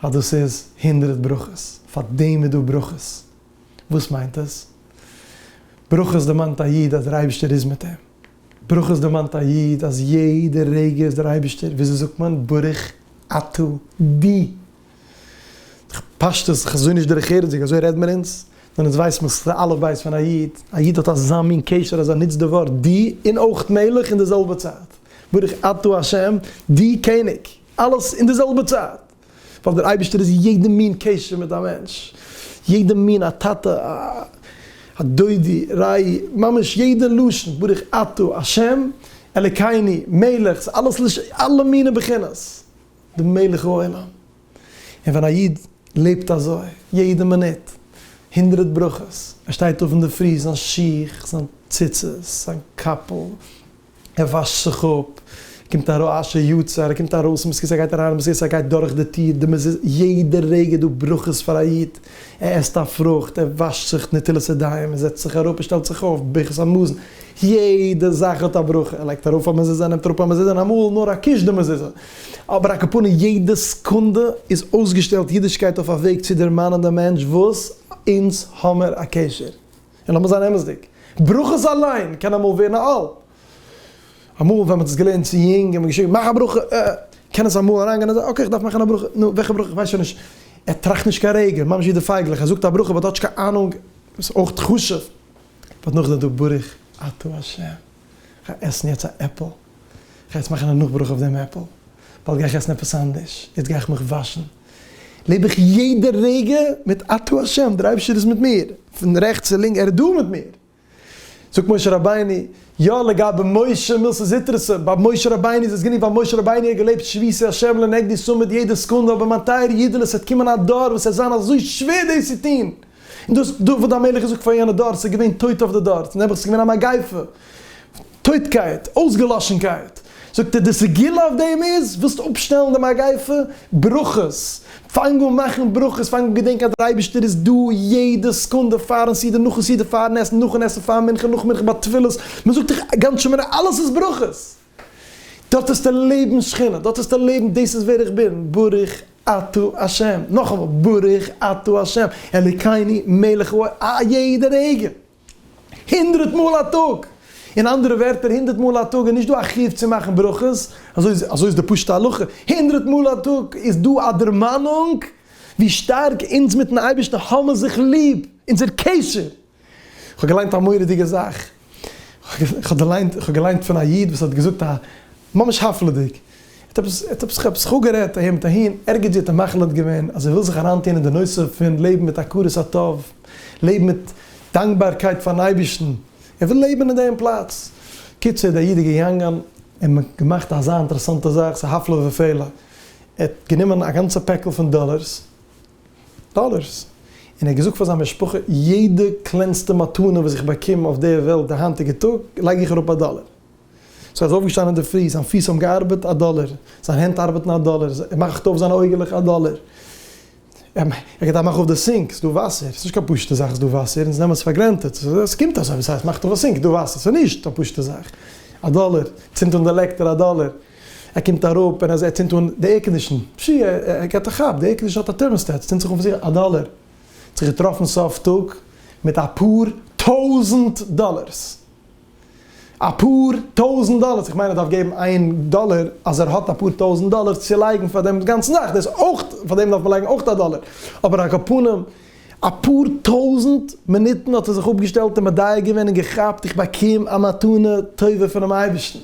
אז דאס איז הונדרעט ברכות, פאר דעם איז דא ברכות. וואס מיינט עס? ברכות דערמאנט א איד אז דער אייבערשטער איז מיט אים. ברכות דערמאנט א איד אז יעדע רגע איז דער אייבערשטער, וויאזוי זאגט מען, ברוך אתה די. דורך פשטות, חזון איש דרך ארץ זיג, אזוי רעד מיר אונז, נאר אונז ווייס מען ס'איז די אלף בית פון א איד, א איד האט אזא מין קשר אז ער נוצט די ווארט די און אויך מלך אין די זעלבע צייט. ברוך אתה השם די קעניג. אלעס אין די זעלבע צייט, ווייל דער אייבערשטער איז יעדע מין קשר מיט א מענטש, יעדע מין א טאטע, א דודי, רעי, ממש יעדע לשון, ברוך אתה, השם, אלקינו, מלך, ס'איז אלעס לש, אלע מיני בחינות, די מלך העולם, און ווען א איד לעבט אזוי, יעדע מינוט, הונדרעט ברכות, ער שטייט אויף אינדערפרי, זיין שיך, זיין ציצית, זיין קאפל, ער וואשט זיך אפ, קומט ארויס אשר יצר, ער קומט ארויס אין מזכרת, ער גייט אריין אין מזכרת, ער גייט דורך די טיר, די מז. יעדע רגע איז דא ברכות פאר א איד, ער עסט א פרוכט, ער וואשט זיך נטילת ידיים, ער זעצט זיך אראפ, ער שטעלט זיך אויף, ברכת המזון, יעדע זאך האט א ברכה, ער לייגט ארויף א מזוזה, ער נעמט אראפ א מזוזה, און אמאל נאר א קיש די מזוזה, אבער א קאפאני יעדע סעקונדע איז אויסגעשטעלט אידישקייט אויף א וועג צו דערמאנען דעם מענטש וואס אונז האמיר א קשר. און לאמיר זיין אמת'דיג, ברכות אליין קען אמאל ווערן א עול. אמאל ווען מ'האט עס געלערנט צו יונג און מ'האט געשריגן מאך א ברכה, אה אה, קען עס אמאל אריינגיין אז אקעי כ'דארף מאכן א ברכה, נו וועלכע ברכה כ'ווייס שוין נישט. ער טראכט נישט קיין רגע, ממש ווי די פייגלעך, ער זאגט א ברכה באט האט נישט קיין אהנונג, וואס איז אויך חשוב, באט נאכדעם איז דא ברוך אתה ה'. כ'גיי עסן יעצט א עפל, כ'גיי יעצט מאכן א נאכברוך אויף דעם עפל, באלד גיי איך עסן עפעס אנדערש, יעצט גיי איך מיך וואשן, לעב איך יעדע רגע מיט אתה השם, דער אייבערשטער איז מיט מיר, פון רעכטס צו לינק, ער איז דא מיט מיר. זאגט משה רבינו, יא לגבי משה מילתא זוטרתא, ביי משה רבינו איז עס גענוג ווייל משה רבינו האט געלעבט שביתי השם לנגדי סאמעט יעדע סקונדע, אבער מיין טייערע אידעלעך ס'וועט קומען א דור וואס עס וועט זיין אזוי שווער דאס צו טון, און דאס דוד המלך געזאגט פאר יענע דור, ס'איז געווען טויט אויף די דור, נעבעך ס'איז געווען א מגיפה, טויטקייט, אויסגעלאשנקייט, זאגט ער די סגולה אויף דעם איז, ווילסט אפשטעלן די מגיפה, ברכות, פאנג אן מאכן ברכות, פאנג אן געדענקען אז דער אייבערשטער איז דא יעדע סעקונדע, פארן סדר, נאכן סדר, פארן עסן, נאכן עסן, פאר מנחה, נאך מנחה, ביי תפילות, מ'זאגט דאך גאנץ שומערע, אלעס איז ברכות. דארט העסטו לעבן שכינה, דארט העסטו לעבן דאס איז ווער איך בין, ברוך אתה השם, נאכאמאל ברוך אתה השם, אלוקינו מלך העולם, א יעדע רגע, הונדרעט מאל א טאג, אין אנדערע ווערטער הונדרעט מאל א טאג איז נישט דא א חיוב צו מאכן ברכות, אזוי איז די פשוטע הלכה, הונדרעט מאל א טאג איז דא א דערמאנונג ווי שטארק אונז מיטן אייבערשטן האבן זיך ליב, אונזער קשר. כ'האב געליינט א מורא'דיגע זאך, כ'האב געליינט פון א איד וואס האט געזאגט א, ממש הפלא'דיג, ער האט עפעס עפעס זיך אפגערעדט אהין מיט אהין, ערגעץ ווי האט ער מחליט געווען אז ער וויל זיך אריינטון אין די נושא פון לעבן מיט הכרת הטוב, לעבן מיט דאנקבארקייט פאר'ן אייבערשטן, ער וויל לעבן אין דעם פלאץ. קיצור, דער איד איז געגאנגען און געמאכט אזא אינטערעסאנטע זאך, ס'איז הפלא ופלא, ער האט גענומען א גאנצע פעקל פון דאללערס, דאלערס, און ער האט געזאגט פאר זיין משפחה, יעדע קלענסטע מתנה וואס איך באקום אויף דער וועלט די היינטיגע טאג, לייג איך אראפ א דאלער. סאו ער איז אויפגעשטאנען אינדערפרי, זיין פיס האבן געארבעט, א דאלער, זיין הענט ארבעטן, א דאלער, ער מאכט אויף זיינע אויגעלעך, א דאלער, ער געדארפט מאכן אויף די סינק, ס'איז דא וואסער, ס'איז נישט קיין פשוטע זאך, ס'איז דא וואסער, אונז נעמען עס פאר גרענטעד, ס'קומט אזוי, וואס הייסט מאכט אויף א סינק, איז דא וואסער, ס'איז נישט א פשוטע זאך, א דאלער, צינדט אן די לעקטער, א דאלער. ער קומט אראפ און ער ער צינדט אן די עירקאנדישן, פשי ער ער געט א כאפ, די עירקאנדישן האט א טערמאסטעט, ס'צינדט זיך אן פון זיך, א דאלער! ער האט זיך געטראפן סוף טאג מיט אפאר טויזנט דאלערס! אפאר טויזנט דאלערס! איך מיין ער דארף געבן איין דאלער אז ער האט אפאר טויזנט דאלערס צו לייגן פאר דעם גאנצן זאך, דאס אויך, פאר דעם דארף מען לייגן אויך א דאלער, אבער א קאפנים, אפאר טויזנט מינוטן האט ער זיך אפגעשטעלט און מודיע געווען און געכאפט, איך באקום א מתנה טובה פונעם אייבערשטן!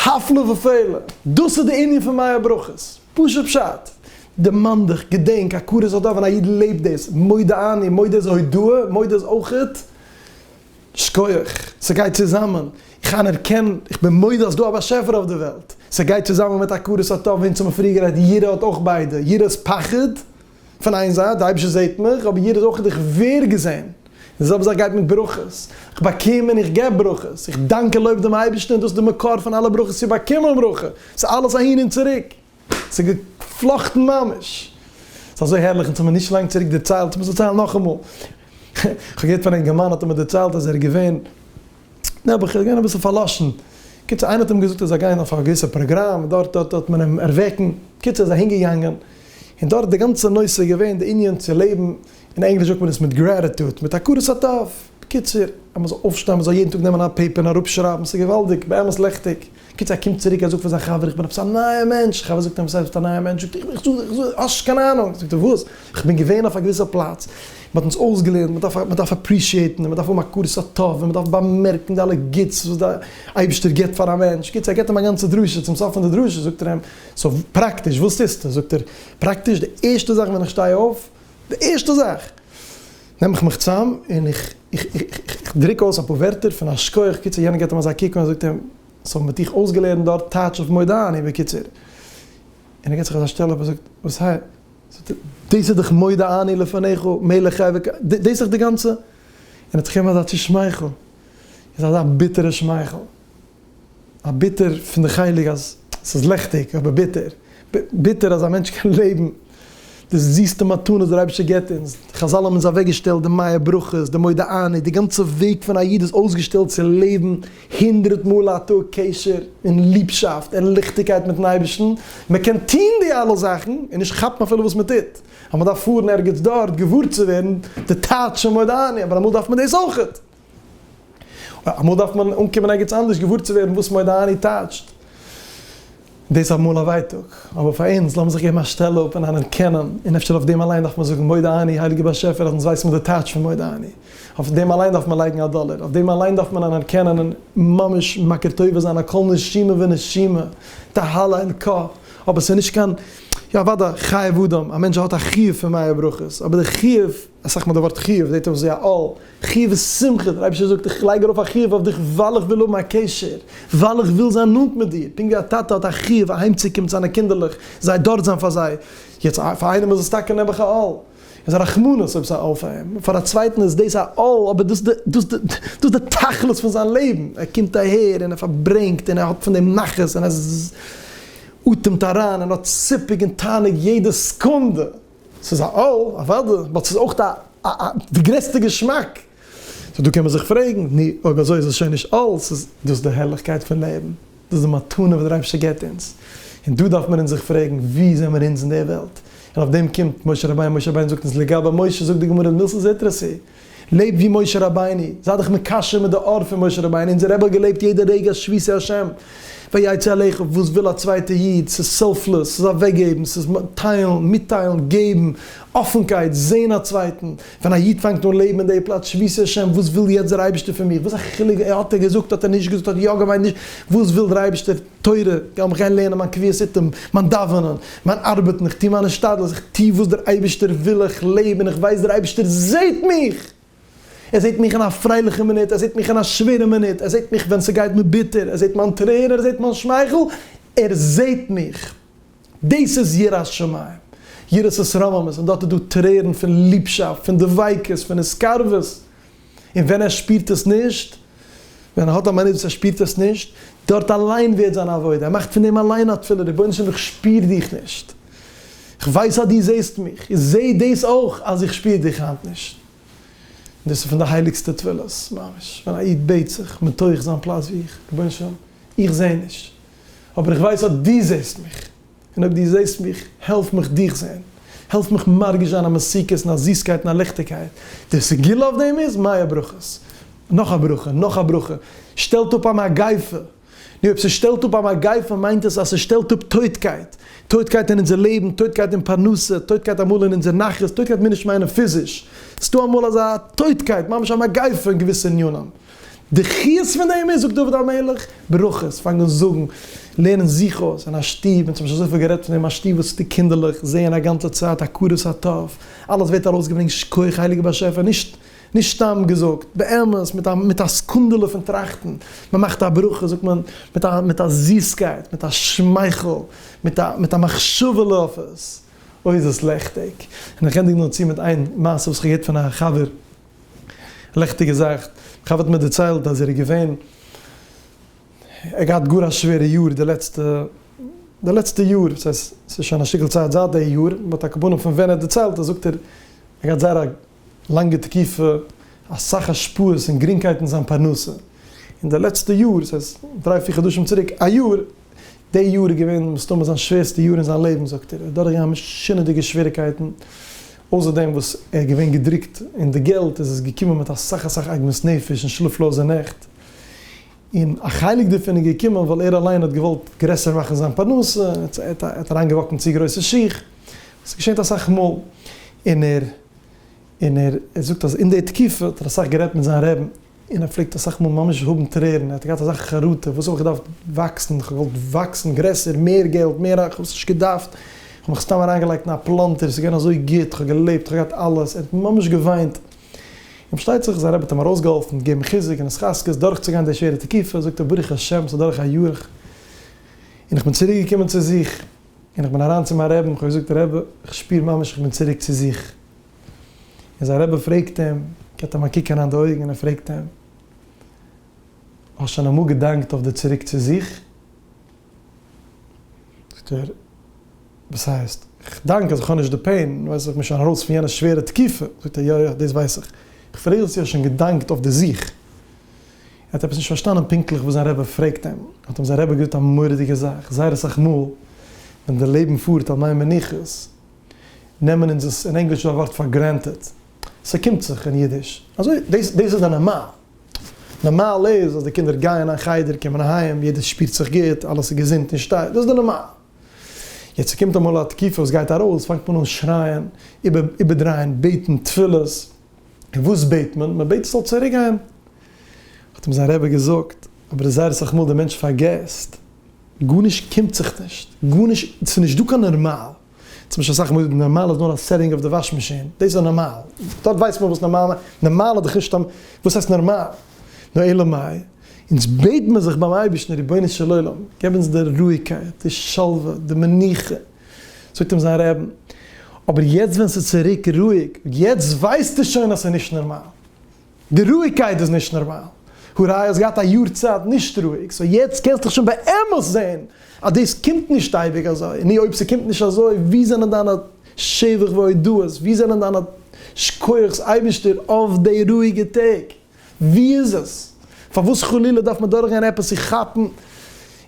הפלא ופלא, דאס איז די ענין פון מי הברכות, פשוט פשט, דערמאן דיך, געדענק, הכרת הטוב, ווען א איד לעבט דאס, מודה אני, מודה איז הודאה, מודה איז אויכעט, שקויעך, ס'גייט צוזאמען, איך אנערקען, איך בין מודה אז ס'דא א באשעפער אויף די וועלט, ס'גייט צוזאמען מיט הכרת הטוב, אונז האבן פריער גערעדט, יראה האט אויך ביידע, יראה איז פחד, פון איין זייט, דער אייבערשטער זעט מיך, אבער יעדער זאל אויך איך ווער געזען. די זעלבע זאך גייט מיט ברכות. איך באקום און איך געב ברכות. איך דאנק און לויב דעם אייבערשטן, דאס איז די מקור פון אלע ברכות צו באקומען ברכה. ס'איז אלעס אהין און צוריק. ס'איז געפלאכטן ממש. ס'איז אזוי הערליך, אונז האבן נישט לאנג צוריק דערציילט, איך מוז דערציילן נאכאמאל. כ'האב געהערט פון אינגערמאן, האט ער מיר דערציילט אז ער איז געווען נעבעך איז געווען אביסל פארלאשן. קיצור איינער האט אים געזאגט ער זאל גיין אויף א געוויסע פראגראם, דארט דארט וועט מען אים ערוועקן. קיצור ער איז אהין געגאנגען, און דארט די גאנצע נושא איז געווען די ענין צו לעבן, אין ענגליש זאגט מען עס מיט גרעטיטוד, מיט הכרת הטוב. בקיצור אז מען זאל אויפשטיין, מען זאל יעדן טאג נעמען א פעיפער און אראפשרייבן, ס'איז געוואלדיג, באמת לעכטיג. קיצער ער קומט צוריק ער זאגט פאר זיין חבר איך בין עפעס א נייע מענטש, חבר זאגט אים וואס הייסט ביסט א נייע מענטש זאגט ער איך זאג איך זאג האסט נישט קיין אהנונג זאגט ער וואס איך בין געווען אויף א געוויסע פלאץ מען האט אונז אויסגעלערנט מען דארף מען דארף אפרישיעטן און מען דארף האבן הכרת הטוב און מען דארף באמערקן די אלע גוטס וואס די אייבישטער גיבט פאר א מענטש קיצער ער גיבט אים א גאנצע דרשה צום סוף פון די דרשה זאגט ער אים סאו פראקטיש וואס טוסטו זאגט ער פראקטיש די ערשטע זאך ווען איך שטיי אויף די ערשטע זאך נעם איך מיך צאם און איך איך דרוק אויס אפאר ווערטער פון א שכוח קיצור יענער געט אים אזא קוק און זאגט אים סאו מען האט דיך אויסגעלערנט דארט טייטש אויף מודעני בקיצור און ער געט זיך אזא שטעל אפ און זאגט וואס הייסט זאגט ער דאס איז דאך מודה אני לפניך מלך חי וקיים דאס איז דאך די גאנצע און ער האט זיך געגעבן אזא צושמייכל אזא ביטערע שמייכל. א ביטער פון די חלק אז ס'איז ליכטיג אבער ביטער. ביטער אז א מענטש קען לעבן די זיסטע מתנות וואס דער אייבערשטער געבט אונז. חזל האבן אונז אוועקגעשטעלט די מאה ברכות, די מודה אני, די גאנצע וועג פון א איד איז אויסגעשטעלט צו לעבן הונדרעט מאל א טאג קשר און ליבשאפט און ליכטיגקייט מיט'ן אייבערשטן. מען קען טון די אלע זאכן און נישט כאפן אפילו וואס מען טוט, ווייל מען דארף פארן ערגעץ דארט געוואר צו ווערן די טייטש פון מודה אני, אבער אמאל דארף מען דאס אויך. אמאל דארף מען אנקומען ערגעץ אנדערש געוואר צו ווערן וואס מדני טייטשט. דאס איז אמאל א ווייטאג. אבער פאר אונז, לאמיר זיך געבן א שטעל אפ און אנערקענען, און אפשר אויף דעם אליין דארף מען זאגן מדני, הייליגער באשעפער אז אונז ווייסן וואס די טייטש פון מדני. אויף דעם אליין דארף מען לייגן א דאלער. אויף דעם אליין דארף מען אנערקענען און ממש מכיר טובה זיין על כל נשימה ונשימה, תהלה אין ק. אבער ס'איז נישט קיין, יא אוודאי, חיי אדם, א מענטש האט א חיוב פון מאה ברכות, אבער די חיוב אסאך מאל די ווארט חיוב זעהט אויס ווי א עול, חיוב איז שמחה, דער אייבערשטער זאגט איך לייג ארויף א חיוב אויף דיך ווייל איך וויל האבן א קשר, ווייל איך וויל זיין נאנט מיט דיר, פונקט ווי א טאטע האט א חיוב אהיימצוקומען צו זיינע קינדערלעך, זיי דארט זיין פאר זיי, יעצט פאר איינעם איז עס טאקע נעבעך א עול, איז א רחמנות אויב עס איז א עול פאר אים, פאר א צווייטן איז דאס א עול אבער דאס איז דאס די תכלית פון זיין לעבן, ער קומט אהער און ער פארברענגט און ער האט פון דעם נחת און ער אטעמט אריין און האט סיפוק און תענוג יעדע סעקונדע. ס'איז א אל, אוודאי, באט ס'איז אויך א א א די גרעסטע געשמאק. סאו דא קען מען זיך פרעגן, נו, אויב אזוי איז עס שוין נישט אל, ס'איז דאס די הערליכקייט פון לעבן, דאס די מתנה וואס דער אייבערשטער גיבט אונז, און דא דארף מען אונז זיך פרעגן, וואו זעמער אונז אין די וועלט? און אויף דעם קומט משה רבינו, משה רבינו זאגט אונז לגבי משה, זאגט די גמרא אין מילתא זעטרא, ס'איז. לעב ווי משה רבינו, זיי דיך מקשר מיט די אור פון משה רבינו, אונזער רבי האט געלעבט יעדע רגע אז שבי שא השם ויצא אליך, וואס וויל א צווייטע איד, ס'איז סעלפלעס, ס'איז אוועקגעבן, ס'איז טיילן, מיטטיילן, געבן, אפענקייט, זען א צווייטן, ווען א איד פאנגט אן לעבן אין די פלאץ שבי שא השם, וואס וויל יעצט דער אייבערשטער פון מיר, וואס א חילוק האט ער געזאגט האט ער נישט געזאגט האט ער יא געמיינט נישט, וואס וויל דער אייבערשטער, תורה, יא, איך גיי לערנען מיין קביעות עתים, מיין דאווענען, מיין ארבעטן, איך טו מיין השתדלות, איך טו וואס דער אייבערשטער וויל, איך לעב און איך ווייס דער אייבערשטער זעט מיך! ער זעט מיך אין א פרייליכע מינוט, ער זעט מיך אין א שווערע מינוט, ער זעט מיך ווען ס'גייט מיר ביטער, ער זעט מיין טרער, ער זעט מיין שמייכל, ער זעט מיך! דאס איז יראת שמים, יראת התרוממות, און דארט איז דא טרערן פון ליבשאפט, פון דביקות, פון התקרבות. און ווען ער שפירט עס נישט, ווען ער האט א מינוט וואס ער שפירט עס נישט, דארט אליין ווערט זיין עבודה, ער מאכט פון דעם אליין א תפילה, רבונו של עולם איך שפיר דיך נישט, איך ווייס אז דו זעסט מיך, איך זע דאס אויך אז איך שפיר דיך היינט נישט, און דאס איז פון די הייליגסטע תפילות ממש, ווען א איד בעט זיך מתוך זיין פלאץ ווי איך, רבונו של עולם איך זע נישט, אבער איך ווייס אז דו זעסט מיך. און אויב דו זעסט מיך, העלף מיך דיך זען. העלף מיך מרגיש זיין א מתיקות און א זיסקייט און א ליכטיגקייט. די סגולה אויף דעם איז, מיה ברכות. נאך א ברכה, נאך א ברכה. שטעלט אפ א מגיפה. נו, אויב ס'שטעלט אפ א מגיפה מיינט עס אז ס'שטעלט אפ טויטקייט. טויטקייט אין אונזער לעבן, טויטקייט אין פרנסה, טויטקייט אמאל אין אונזער נחת, טויטקייט מיר נישט מיינען פיזיש. ס'דא אמאל אזא טויטקייט, ממש א מגיפה אין געוויסע ענינים. די חיות פון דעם איז, זאגט דוד המלך, ברכות, פאנג אן זאגן, לערן זיך אויס אין א שטוב, אונז האבן שוין אזויפיל גערעדט פון דעם, א שטוב וואס די קינדערלעך זעען א גאנצע צייט הכרת הטוב, אלעס ווערט ארויסגעברענגט, שכוח הייליגער באשעפער, נישט נישט סתם געזאגט, באמת מיט א מיט א סקונדעלע פון טראכטן, מען מאכט א ברכה זאגט מען מיט א מיט א זיסקייט, מיט א שמייכל, מיט א מיט א מחשבה'לע אויף עס, אוי איז עס לעכטיג. און איך ענדיג נאר צו מיט איין מעשה וואס איך האב געהערט פון א חבר. לעכטיגע זאך, א חבר האט מיר דערציילט אז ער איז געווען, ער האט געהאט גאר א שווערע יאר די לעצטע, די לעצטע יאר, ס'הייסט ס'איז שוין א שטיקל צייט זייט די יאר, באט הכוונה פון ווען ער האט דערציילט, זאגט ער, ער געהאט זייער א לאנגע תקופה, אסאך השפעות און גרינגקייט אין זיין פרנסה, און די לעצטע יאר, ס'הייסט דריי פיר חדשים צוריק, א יאר, די יאר איז געווען מסתמא זיין שווערסטע יאר אין זיין לעבן זאגט ער, ער איז דורכגעגאנגען משונה'דיגע שוועריקייטן, אויסער דעם וואס ער איז געווען געדרוקט אין די געלט איז עס געקומען מיט אסאך אסאך עגמת נפש און שלאפלאזע נעכט, און א חלק דערפון איז געקומען ווייל ער אליין האט געוואלט גרעסער מאכן זיין פרנסה, ער האט אריינגעוואקן צו גרויסע שיך, עס געשעט אסאך מאל, און ער און ער ער זאגט אז אין די תקופה האט ער אסאך גערעדט מיט זיין רעבן. און ער פלעגט אסאך מאל ממש האבן טרערן, ער האט געהאט אזא חרטה, וואס האב איך געדארפט וואקסן, איך האב געוואלט וואקסן גרעסער, מער געלט, מער רייך, איך האב עס נישט געדארפט, איך האב מיך סתם אריינגעלייגט אין א פלאנטער, עס איז געווען אזוי גוט, איך האב געלעבט, איך האב געהאט אלעס, ער האט ממש געוויינט, און פארשטייט זיך זיין רבי האט אים ארויסגעהאלפן, געגעבן חיזוק און התחזקות דורכצוגיין די שווערע תקופה, זאגט ער ברוך השם עס איז אדורך א יאר, און איך בין צוריק געקומען צו זיך, און איך בין אריין צו מיין רעבן, איך האב געזאגט רעבע, איך שפיר ממש איך בין צוריק צו זיך. און זיין רבי פרעגט אים, געט אים א קוק אריין די אויגן און פרעגט אים, האסט שוין אמאל געדאנקט אויף די צוריק צו זיך? זאגט ער, וואס הייסט? איך דאנק אז איך האב נישט די פעין, ווייס איך בין שוין ארויס פון יענע שווערע תקופה. זאגט ער, יא יא, דאס ווייס איך. איך פרעג זיך צו האסט שוין געדאנקט אויף די זיך? ער האט עפעס נישט פארשטאנען פונקטליך וואס זיין רבי פרעגט אים, האט אים זיין רבי געזאגט א מורא'דיגע זאך, זייער אסאך מאל ווען די לעבן פארט על מי מנוחות, נעמען אונז עס, אין ענגליש איז דא א ווארט פאר גרענטעד, ס'קומט זיך אין אידיש, אזוי, דאס דאס איז די נארמאל, נארמאל איז אז די קינדער גייען אין חדר, קומען אהיים, יעדער שפירט זיך גוט, אלעס איז געזונט און שטייט, דאס איז די נארמאל. יעצט ס'קומט אמאל א תקופה וואס גייט ארויס, פאנגט מען אן שרייען, איבער איבערדרייען, בעטן תפילות, און וואס בעט מען? מען בעט עס זאל צוריק גיין, האט אים זיין רבי געזאגט, אבער איז זייער אסאך מאל די מענטש פארגעסט, גארנישט קומט זיך נישט, גארנישט, ס'איז נישט דא קיין נארמאל, צום משל אסאך מאל נארמאל איז נאר א סעטינג אויף די וואש מאשין, דאס איז נארמאל, דארט ווייסט מען וואס נארמאל מיינט, נארמאל האט דאך נישט א, וואס הייסט נארמאל? נו אלא מאי, אונז בעט מיר זיך ביים אייבערשטן רבונו של עולם געב אונז די רואיגקייט, די שלווה, די מנוחה, זאגט אים זיין רבי, אבער יעצט ווען ס'איז צוריק רואיג, יעצט ווייסטו שוין אז ס'איז נישט נארמאל. די רואיגקייט איז נישט נארמאל, הראי' האסט געהאט א יאר צייט נישט רואיג, סאו יעצט קענסט דיך שוין באמת זעהן אז דאס קומט נישט אייביג אזוי, נו אויב ס'קומט נישט אזוי וואו זענען דיינע שבח והודאות, וואו זענען דיינע שקויעך'ס אייבישטער אויף די רואיגע טעג, וואו איז עס? פארוואס חלילה דארף מען דורכגיין עפעס צו כאפן? און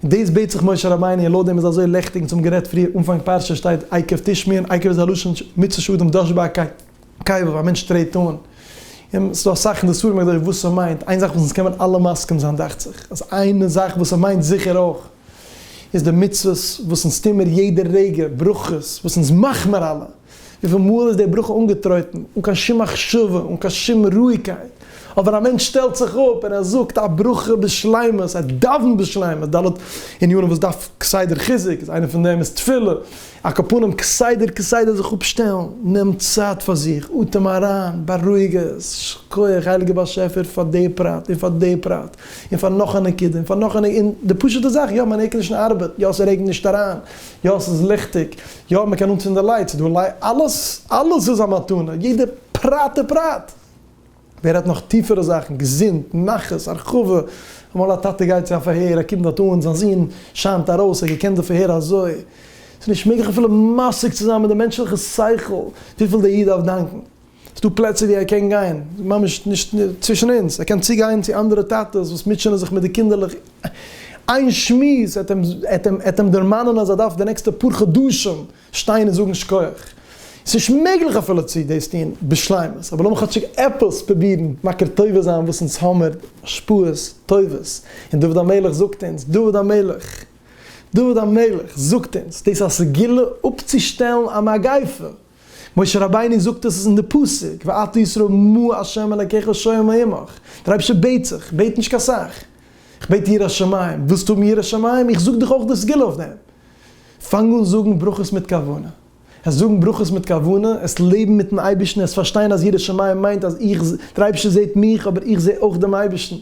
דאס בעט זיך משה רבינו און לויט דעם איז אזוי לעכטיג און צום גערעדט פריער אנפאנג פרשה שטייט עיכב תשמעון, עיכב איז א לשון מצוה שדים דאשבארקייט, קיי וואו א מענטש טרעט אן און ס'איז דא אסאך אין די ספרים אויף וואס ס'מיינט, איין זאך וואס אונז קען מען אלע מסכים זיין דאכט זיך אז איין זאך וואס ס'מיינט זיכער אויך איז די מצוות וואס אונז טוהן מיר יעדע רגע, ברכות וואס אונז מאכן מיר אלע, וויפיל מאל איז די ברכה אנגעטרויטן אן קיין שום מחשבה, אן קיין שום רואיגקייט, אבער א מענטש שטעלט זיך אפ און ער זאגט א ברכה בשלימות, ער דאווענט בשלימות, ד' ענינים וואס דארף כסדר חיזוק, איז איינע פון דעם איז תפילה, א קאפונעם כסדר כסדר זיך אפשטעלן, נעם צייט פאר זיך, אטעם אריין, בארואיג עס, שכוח הייליגער באשעפער פאר די פרט, און פאר די פרט, און פאר נאך א נקודה, און פאר נאך א נ, און די פשוטע זאך, יא מיין עירקאנדישן ארבעט, יא ס'רעגנט נישט אריין, יא ס'איז ליכטיג, יא מ'קען אנצינדן לייט, ס'דא לייט, אלעס, אלעס איז א מתנה, יעדע פרט ופרט! ווער האט נאך טיפערע זאכן, געזונט, נחת, הרחבה, אמאל א טאטע גייט צו א פארהער, ער קומט דארט אן, זיין זון שיינט ארויס, ער האט געקענט די פארהער אזוי, ס'איז נישט מעגליך אפילו משיג צו זיין מיט די מענטשליכע שכל וויפיל דער איד דארף דאנקן, ס'איז דא פלעצער ווי ער קען גיין, ממש נישט צווישן אונז, ער קען צוגיין צו אנדערע טאטעס וואס מוטשענען זיך מיט די קינדערלעך, איין שמועס וועט אים דערמאנען אז ער דארף די נעקסטע פאר חדשים שטיין און זאגן שכוח. ס'נישט מעגליך אפילו צו דאס טון בשלימות, אבער לאמיר כאטשיג עפעס פרובירן מכיר טובה זיין וואס אונז האמיר השפעות טובות. און דוד המלך זאגט אונז, דוד המלך, דוד המלך זאגט אונז דאס א סגולה אפצושטעלן א מגיפה. משה רבינו זאגט עס אין די פסוק, ואתה ישראל מה ה' אלקיך שואל מעמך, דער אייבערשטער בעט זיך, בעט נישט קיין סאך, איך בעט יראת שמים, ווילסט האבן יראת שמים, איך זאג דיך אויך די סגולה אויף דעם. פאנג אן זאגן ברכות מיט כוונה. עס זאגן ברכות מיט כוונה, עס לעבן מיט'ן אייבערשטן, עס פארשטיין אז יראת שמים מיינט אז איך, דער אייבערשטער זעט מיך, אבער איך זע אויך דעם אייבערשטן.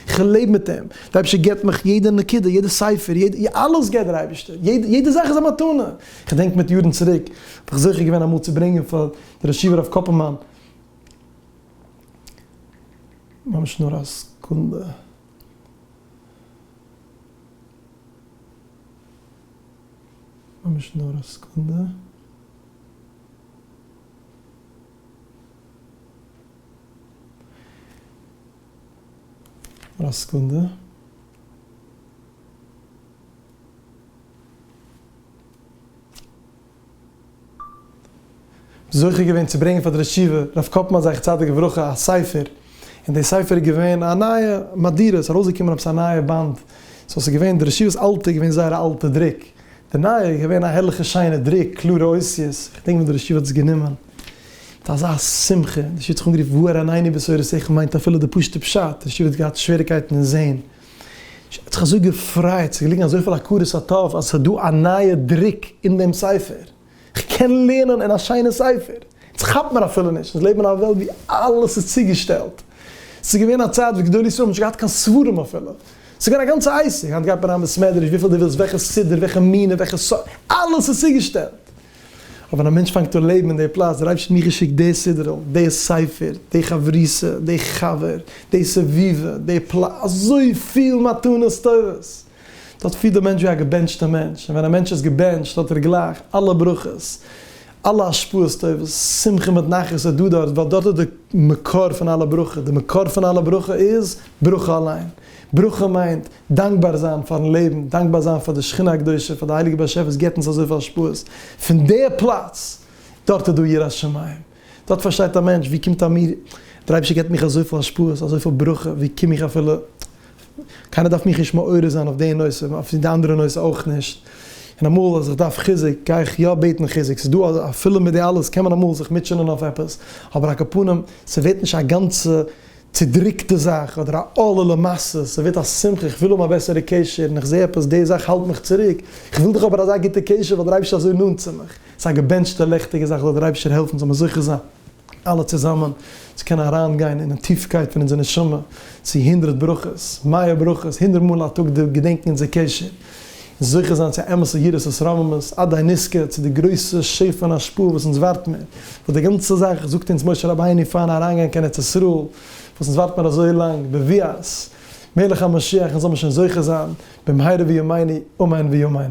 איך לעב מיט אים. דער אייבערשטער געבט מיך יעדע נקודה, יעדע ספר, יעדע, אלעס געבט דער אייבערשטער. יעדע זאך איז א מתנה. איך דענק מיט יארן צוריק, האב איך זוכה געווען אמאל צו ברענגען פאר דער ישיבה רב קאפעלמאן, ממש נאר א סעקונדע. ממש נאר א סקונדע. נאר א סקונדע. זוכה געווען צו ברענגען פאר די רשיבה רב קאפמאן זכר צדיק לברכה א ספר, און די ספר איז געווען א נייע מהדורה, ס'איז ארויסגעקומען עפעס א נייע באנד, סאו ס'איז געווען די רשיבה'ס אלטע איז געווען זייער א אלטע דרוק, די נייע איז געווען א הערליכע שיינע דרוק, קלארע אותיות, כ'דענק ווען די רשיבה האט עס גענומען מיט אזא שמחה, די רשיבה האט זיך אנגערופן והאר עינינו בשורות איכה מיינט אפילו די פשוטע פשט, די רשיבה האט געהאט שוועריקייטן אין זעהן. ש. האט זיך אזוי געפרייט, ס'איז געליגן אזויפיל הכרת הטוב אז ס'איז דא א נייע דרוק אין דעם ספר, כ'קען לערנען אין א שיינע ספר, אונז כאפט מיר אפילו נישט, אונז לעבן אין א וועלט ווי אלעס איז צוגעשטעלט, ס'איז געווען א צייט וואס גדולי ישראל האבן נישט געהאט קיין ספרים אפילו, ס'איז געווען א גאנצע עסק, היינט גייט מען אריין אין בית מדרש וויפיל דו ווילסט, וועלכע סידור, וועלכע מנין, וועלכע ספר, אלעס איז צוגעשטעלט. אבער ווען א מענטש פאנגט אן לעבן אין די פלאץ, דער אייבערשטער האט מיר געשיקט די סדרה, די ספר, די חברותא, די חבר, די סביבה, די פלאץ, אזויפיל מתנות טובות! דארט פילט דער מענטש ווי א געבענטשטער מענטש, און ווען א מענטש איז געבענטשט האט ער גלייך אלע ברכות, אלע השפעות טובות, שמחה מיט נחת איז דא דארט, ווייל דארט איז די מקור פון אלע ברכה, די מקור פון אלע ברכה איז ברכה אליין, ברכה מיינט דאנקבאר זיין פארן לעבן, דאנקבאר זיין פאר די שכינה הקדושה, פאר די הייליגע באשעפער וואס גיבט אונז אזויפיל השפעות פון די פלאץ, דארט איז דא יראת שמים, דארט פארשטייט א מענטש ווי קומט א מיר, דער אייבערשטער גיבט מיך אזויפיל השפעות, אזויפיל ברכה, ווי קום איך אפילו, קיינער דארף מיך נישט מעורר זיין אויף די נושא, אויף די אנדערע נושא אויך נישט, און אמאל אז איך דארף חיזוק גיי איך יא בעטן חיזוק, ס'איז דא אפילו מיט די אלעס קען מען אמאל זיך מוטשענען אויף עפעס, אבער א קאפנים, ס'ווערט נישט א גאנצע צודריקטע זאך אדער א עולה למעשה, ס'ווערט א שמחה, איך וויל האבן א בעסערע קשר און איך זע עפעס די זאך האלט מיך צוריק, איך וויל דאך האבן אזא גוטע קשר ווייל דער אייבערשטער איז אזוי נאנט צו מיך, ס'איז א געבענטשטע לעכטיגע זאך, זאל דער אייבערשטער העלפן זאל מיר זוכה זיין אלע צוזאמען צו קענען אריין גיין אינעם טיפקייט פון אונזער נשמה צו הונדרעט ברכות, מאה ברכות, הונדרעט מאל א טאג געדענקן אונזער קשר. און זוכה זיין צו אמת'ע יראת את רוממות, אודאי נזכה צו די גרויסע שפע און השפעה וואס אונז ווארט מיר, וואס די גאנצע זאך זאגט אונז משה רבינו פארן אריינגיין קיין ארץ ישראל, וואס אונז ווארט מיר אזוי לאנג, בביאת מלך המשיח, אונז זאל מיר שוין זוכה זיין במהרה וימינו אמן ויאמן.